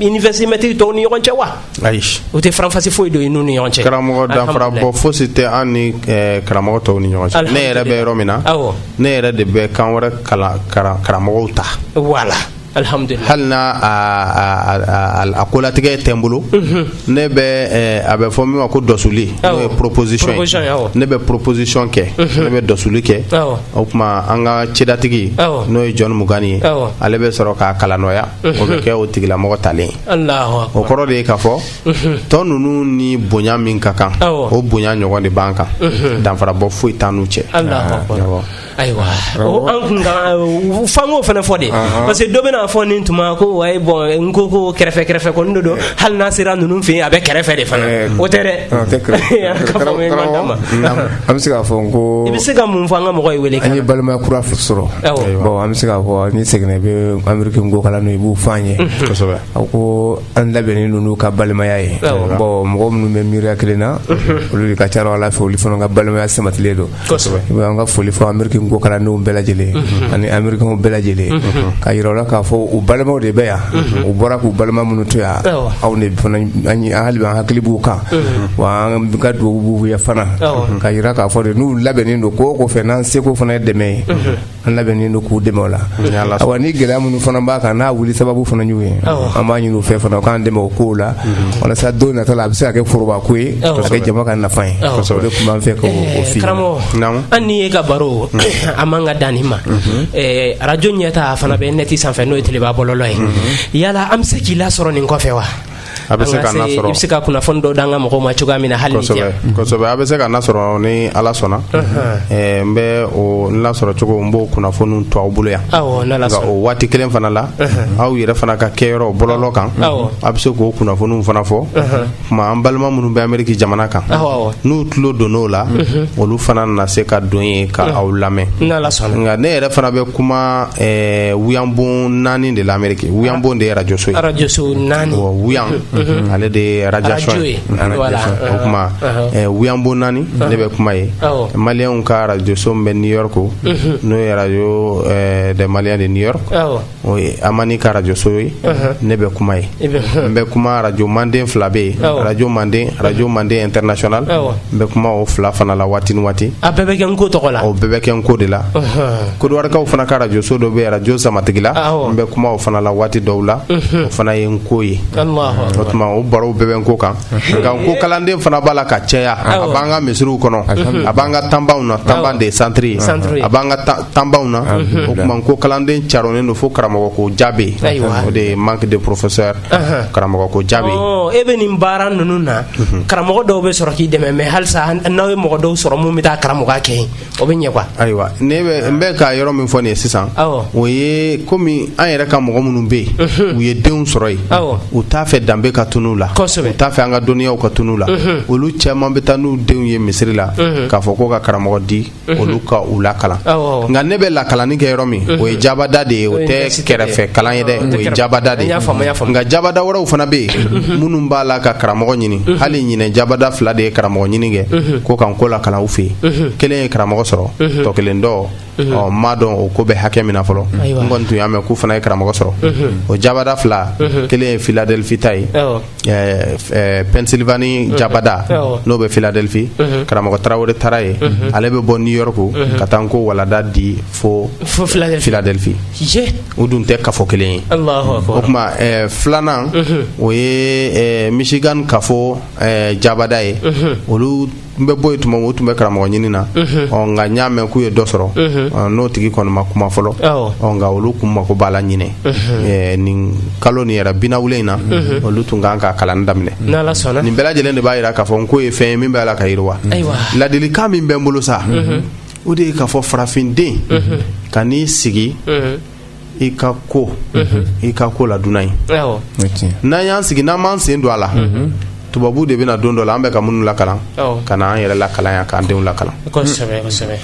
universite mɛtiri tɔw ni ɲɔgɔn cɛ wa ayi u tɛ faranfasi foyi don i n'u ni ɲɔgɔn cɛ karamɔgɔ danfara bɔ fosi tɛ an ni eh, karamɔgɔ tɔw ni ɲɔgɔn cɛ ne yɛrɛ bɛ yɔrɔ min na awɔ ne yɛrɛ de bɛ kan wɛrɛ kalan karan- karamɔgɔw ta wala alihamudulila hali n'a a- a- a- a- a kolatigɛ tɛ n bolo ne bɛ eh, a bɛ fɔ min ma ko dɔsuli n'o ye Awɔ. proposition Proposition, ye awɔ. ne bɛ proposition kɛ ne bɛ dɔsuli kɛ Awɔ. o tuma an ka cedatigi Awɔ. n'o ye John Mugane ye Awɔ. ale bɛ sɔrɔ k'a kalanɔya o bɛ kɛ o tigilamɔgɔ talen ye o kɔrɔ de ye k'a fɔ tɔ ninnu ni bonya min ka kan o bonya ɲɔgɔn de b'an kan danfara bɔ foyi t'an n'u cɛ ayiwa tun f'an k'o fana fɔ de parce que dɔ bɛna fɔ nin tuma ko wa bon n'ko ko kɛrɛfɛ kɛrɛfɛ ko don hali n'a sera ninnu fɛ yen a bɛ kɛrɛfɛ de fana o tɛ dɛ An bɛ se k'a fɔ n ko i bɛ se ka mun fɔ an ka mɔgɔ ye wele an ye balimaya kura sɔrɔ an bɛ se k'a fɔ n'i seginna i bɛ ameriki n'ko kalan i b'o fɔ an ye a ko an labɛnnen don u ka balimaya ye mɔgɔ minnu bɛ miiriya kelen na olu de ka ca ala fɛ olu fana ka balimaya sabatilen don an ka foli fɔ ameriki n'ko kalandenw bɛɛ lajɛlen ani amerikikaw bɛɛ lajɛlen k'a jira u la k'a fɔ u balimaw de bɛ yan u bɔra k'u balima minnu to yan anw an hakili b'u kan wa an ka dugawu b'u ye fana k'a jira k'a fɔ de n'u labɛnnen don n'ko ko fɛ n'an seko fana ye dɛmɛ ye an labɛnnen don k'u dɛmɛ o la wa ni gɛlɛya minnu fana b'an kan n'a wuli sababu fana ɲɔgɔn ye an b'a ɲini u fɛ fana u k'an dɛmɛ o ko la walasa don nata la a bɛ se ka kɛ foroba ko ye ka kɛ jama ka nafa ye o de tun b'an fɛ karamɔgɔ an ni e ka baro a man ka dan nin ma arajo ɲɛta fana bɛ neti sanfɛ n'o ye ntalenba bɔlɔlɔ ye yala an bɛ se k'i lasɔrɔ nin kɔfɛ wa A bɛ se ka sɔrɔ i bɛ se ka kunnafoni dɔ d'an ka mɔgɔw ma cogoya min na hali kosɛbɛ a bɛ se ka n lasɔrɔ ni ala sɔnna n bɛ n lasɔrɔcogo n b'o kunnafoni to aw bolo yan o waati kelen fana la aw yɛrɛ fana ka kɛyɔrɔ bɔlɔlɔ kan a bɛ se k'o kunnafoniw fana fɔ tuma an balima minnu bɛ ameriki jamana kan n'u tulo don o la olu fana na se ka don yen ka aw lamɛn nka ne yɛrɛ fana bɛ kuma ɛɛ wuyanbon naani de la ameriki wuyanbon de ye arajo so ye arajo so naani wuyan ale de ye arajo ye o tuma wuyanbon naani ne bɛ kuma yen maliyɛnw ka arajo so bɛ new york n'o ye radio des maliens de new york o ye amani ka arajo so ye ne bɛ kuma yen n bɛ kuma arajo manden fila bɛ yen arajo manden arajo manden international n bɛ kuma o fila fana la waati ni waati a bɛɛ bɛ kɛ nko tɔgɔ la o bɛɛ bɛ kɛ nko de la Kɔdiwarikaw fana ka arajo so dɔ bɛ arajo samatigila n bɛ kuma o fana la waati dɔw la o fana ye nko ye o tuma o baro bɛɛ bɛ nko kan nka nko kalanden fana b'a la ka caya a b'an ka misiriw kɔnɔ a b'an ka tan na tan de santiri a b'an ka tan na o tuma nko kalanden carinnen don fo karamɔgɔ ko ja bɛ yen o de ye manque de professeurs karamɔgɔ ko ja bɛ yen e bɛ nin baara ninnu na karamɔgɔ dɔw bɛ sɔrɔ k'i dɛmɛ mɛ halisa n'aw ye mɔgɔ dɔw sɔrɔ minnu bɛ taa karamɔgɔ kɛ o bɛ ɲɛ quoi ayiwa ne bɛ n bɛ ka yɔrɔ min fɔ nin ye sisan o ye komi an yɛrɛ ka mɔgɔ minnu bɛ yen u ye denw sɔrɔ yen u t'a fɛ danbe ka tunun u la u t'a fɛ an ka dɔnniyaw ka tunun u la olu caman bɛ taa n'u denw ye misiri la k'a fɔ ko ka karamɔgɔ di olu ka u lakalan nka ne bɛ lakalanni kɛ yɔrɔ min o ye jabada de ye o tɛ kɛrɛfɛ kalan ye dɛ o ye jabada de ye nka jabada wɛrɛw fana bɛ yen minnu b'a la ka karamɔgɔ ɲini hali ɲinɛ jabada fila de ye karamɔgɔ ɲini kɛ ko ka nko lakalan u fɛ yen kelen ye karamɔgɔ sɔrɔ tɔ kelen dɔ n m'a dɔn o ko bɛ hakɛ min fɔlɔ n kɔni tun y'a mɛn k'u fana ye karamɔgɔ sɔrɔ o jabada fila kelen ye philadelphie ta ye pennsylvanie jabada n'o bɛ philadelphie karamɔgɔ tarawele taara yen ale bɛ bɔ new york ka taa nko walanda di fo philadelphie u dun tɛ kafo kelen ye o tuma filanan o ye michigan kafo jabada ye olu n bɛ bɔ yen tuma o tun bɛ karamɔgɔ ɲini na nka n y'a mɛn k'u ye dɔ sɔrɔ n'o tigi kɔni ma kuma fɔlɔ nka olu tun mako b'a la ɲinɛ nin kalo nin yɛrɛ binawulen na olu tun kan ka kalan daminɛ nin bɛɛ lajɛlen de b'a jira k'a fɔ nko ye fɛn ye min b'a la ka yiriwa ladilikan min bɛ n bolo sa o de ye k'a fɔ farafinden kan'i sigi i ka kɛ i ka ko la dunan ye n'an y'an sigi n'an m'an sen don a la tubabu de bɛna don dɔ la an bɛ ka minnu lakalan ka na an yɛrɛ lakalan yan k'an denw lakalan kosɛbɛ kosɛbɛ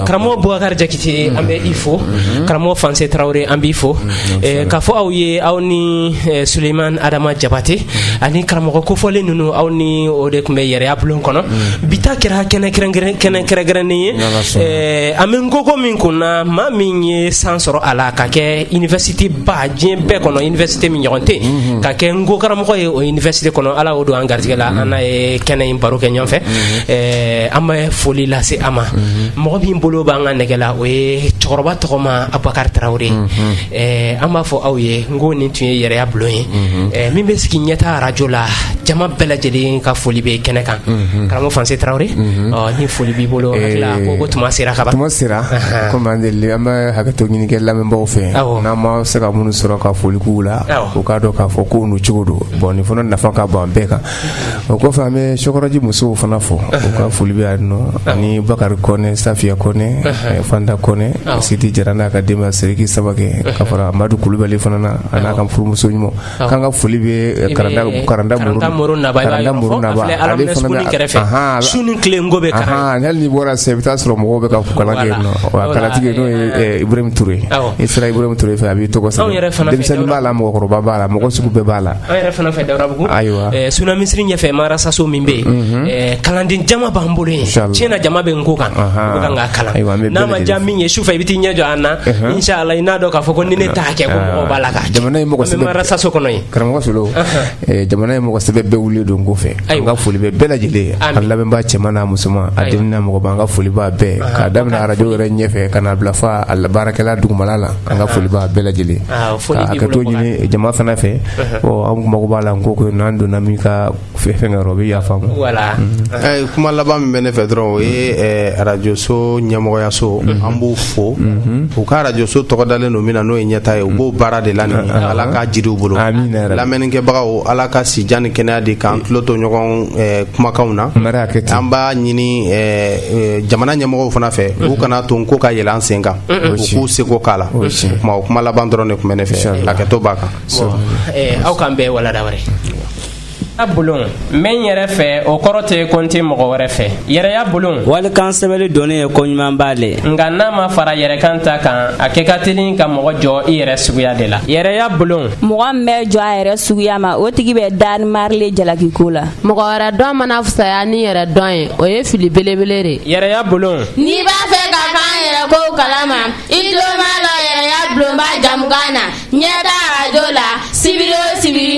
karamɔgɔ Bubakari Jakite an bɛ i fo karamɔgɔ Fanse Tarawele an b'i fo k'a fɔ aw ye aw ni Suleyimani Adama Jabate ani karamɔgɔ kofɔlen ninnu aw ni o de tun bɛ yɛrɛya bulon kɔnɔ bi ta kɛra kɛnɛ kɛrɛnkɛrɛnnen ye an bɛ nko ko min kun na maa min ye san sɔrɔ a la ka kɛ université ba diɲɛ bɛɛ kɔnɔ université min ɲɔgɔn tɛ yen ka kɛ nko karamɔgɔ ye o université kɔnɔ ala y'o don an garijɛgɛ la an n'a ye kɛnɛ in baro kɛ ɲɔgɔn fɛ ɛɛ an bɛ foli lase a ma mɔgɔ min bolo b'an ka nɛgɛ la o ye cɛkɔrɔba tɔgɔma abubakari tarawele ɛɛ an b'a fɔ aw ye n ko nin tun ye yɛrɛya bulon ye mhm. ɛɛ min bɛ sigi ɲɛta arajo la jama bɛɛ lajɛlen ka foli bɛ kɛnɛ kan mhm. karamɔgɔ fanse tarawele mhm. ɔ ni foli b'i bolo hakili la ko ko tuma sera ka ban tuma sera komi an deli an bɛ hakɛto ɲini kɛ lamɛnbaaw fɛ n'an ma se ka minnu sɔrɔ ka foli k'u la u k'a dɔn k'a fɔ ko nu cogo don bulon nin fana nafa ka bon an bɛɛ kan o kɔfɛ an bɛ sokɔrɔji musow fana fo u ka foli bɛ nɔ ani bakari kɔnɛ safiya kɔnɛ fanta kɔnɛ sidi jara n'a ka denbaya seriki samake ka fara amadu kulubali fana na ani a ka furumuso ɲuman k'an ka foli bɛ karanta karanta ni bɔra se i bɛ taa sɔrɔ mɔgɔw bɛ katigi n'o yeurre i sera i fɛ a b'i tɔgɔ b'a la mɔgɔkɔrɔba b'a la mɔgɔ sugu bɛɛ b'a la an yɛrɛ fana fɛ dawudabugu ayiwa eh, suna misiri ɲɛfɛ madarasaso min bɛ yen mhm. eh, kalanden jama b'an bolo yen tiɲɛ na jama bɛ nko kan u kan k'a kalan n'a ma diya min ye sufɛ i bɛ t'i ɲɛ jɔ an na mhm. inshallah i n'a dɔn k'a fɔ ko ni ne t'a kɛ ko ah. mɔgɔ b'a la ka jamana ye mɔgɔ sɛbɛ madarasaso kɔnɔ yen karamɔgɔ solo eh, jamana ye mɔgɔ sɛbɛ bɛɛ wulilen don nko fɛ an ka foli bɛ bɛɛ lajɛlen ye an lamɛnbaa cɛman n'a musoman a denw n'a mɔgɔba an ka foli b'a bɛɛ k'a daminɛ arajo yɛrɛ ɲɛfɛ ka n'a bila fo a baarakɛla dugumala la an ka foli b'a bɛɛ lajɛlen Aa foli b'i bolo Bakari, ka hakɛto ɲini jama fana fɛ, unhun, ɔ an tun mago b'a la nko kɔni n'an donna min ka fɛn na o bɛ yafa an ma, voilà Ɛɛ, kuma laban min bɛ ne fɛ dɔrɔn o ye ɛɛ, arajoso ɲɛmɔgɔyaso an b'u fo u ka arajoso tɔgɔ dalen don min na n'o ye ɲɛta ye u b'o baara de la nin ye. ala ka jiidi u bolo Amina yarabi. lamɛnnikɛbagaw ala ka si jan ni kɛnɛya di k'an tulo to ɲɔgɔn ɛɛ, kumakanw na Mara hakɛ ten. an b'a ɲini ɛɛ, ɛɛ, jamana ɲɛmɔgɔw fana fɛ u kana to nko ka yɛlɛ an sen kan U k'u seko k'a la o kuma laban dɔrɔn de tun bɛ ne fɛ hakɛto b'a kan aw k'an bɛɛ walada yɛrɛya bulon n bɛ n yɛrɛ fɛ o kɔrɔ tɛ ko n tɛ mɔgɔ wɛrɛ fɛ yɛrɛya bulon walikan sɛbɛnni dɔnni ye ko ɲumanba le nka n'a ma fara yɛrɛkan ta kan a kɛ ka teli ka mɔgɔ jɔn i yɛrɛ suguya de la yɛrɛya bulon mɔgɔ min bɛ jɔn a yɛrɛ suguya ma o tigi bɛ danni mari le jalaki ko la mɔgɔ wɛrɛ dɔn mana fisaya ni yɛrɛ dɔn ye o ye fili belebele de ye yɛrɛya bulon N'i b'a fɛ ka kɛ i yɛrɛ ko kalama i tulomalɔ yɛrɛya bulonba jɛmukan na ɲɛta arajo la sibiri o sibiri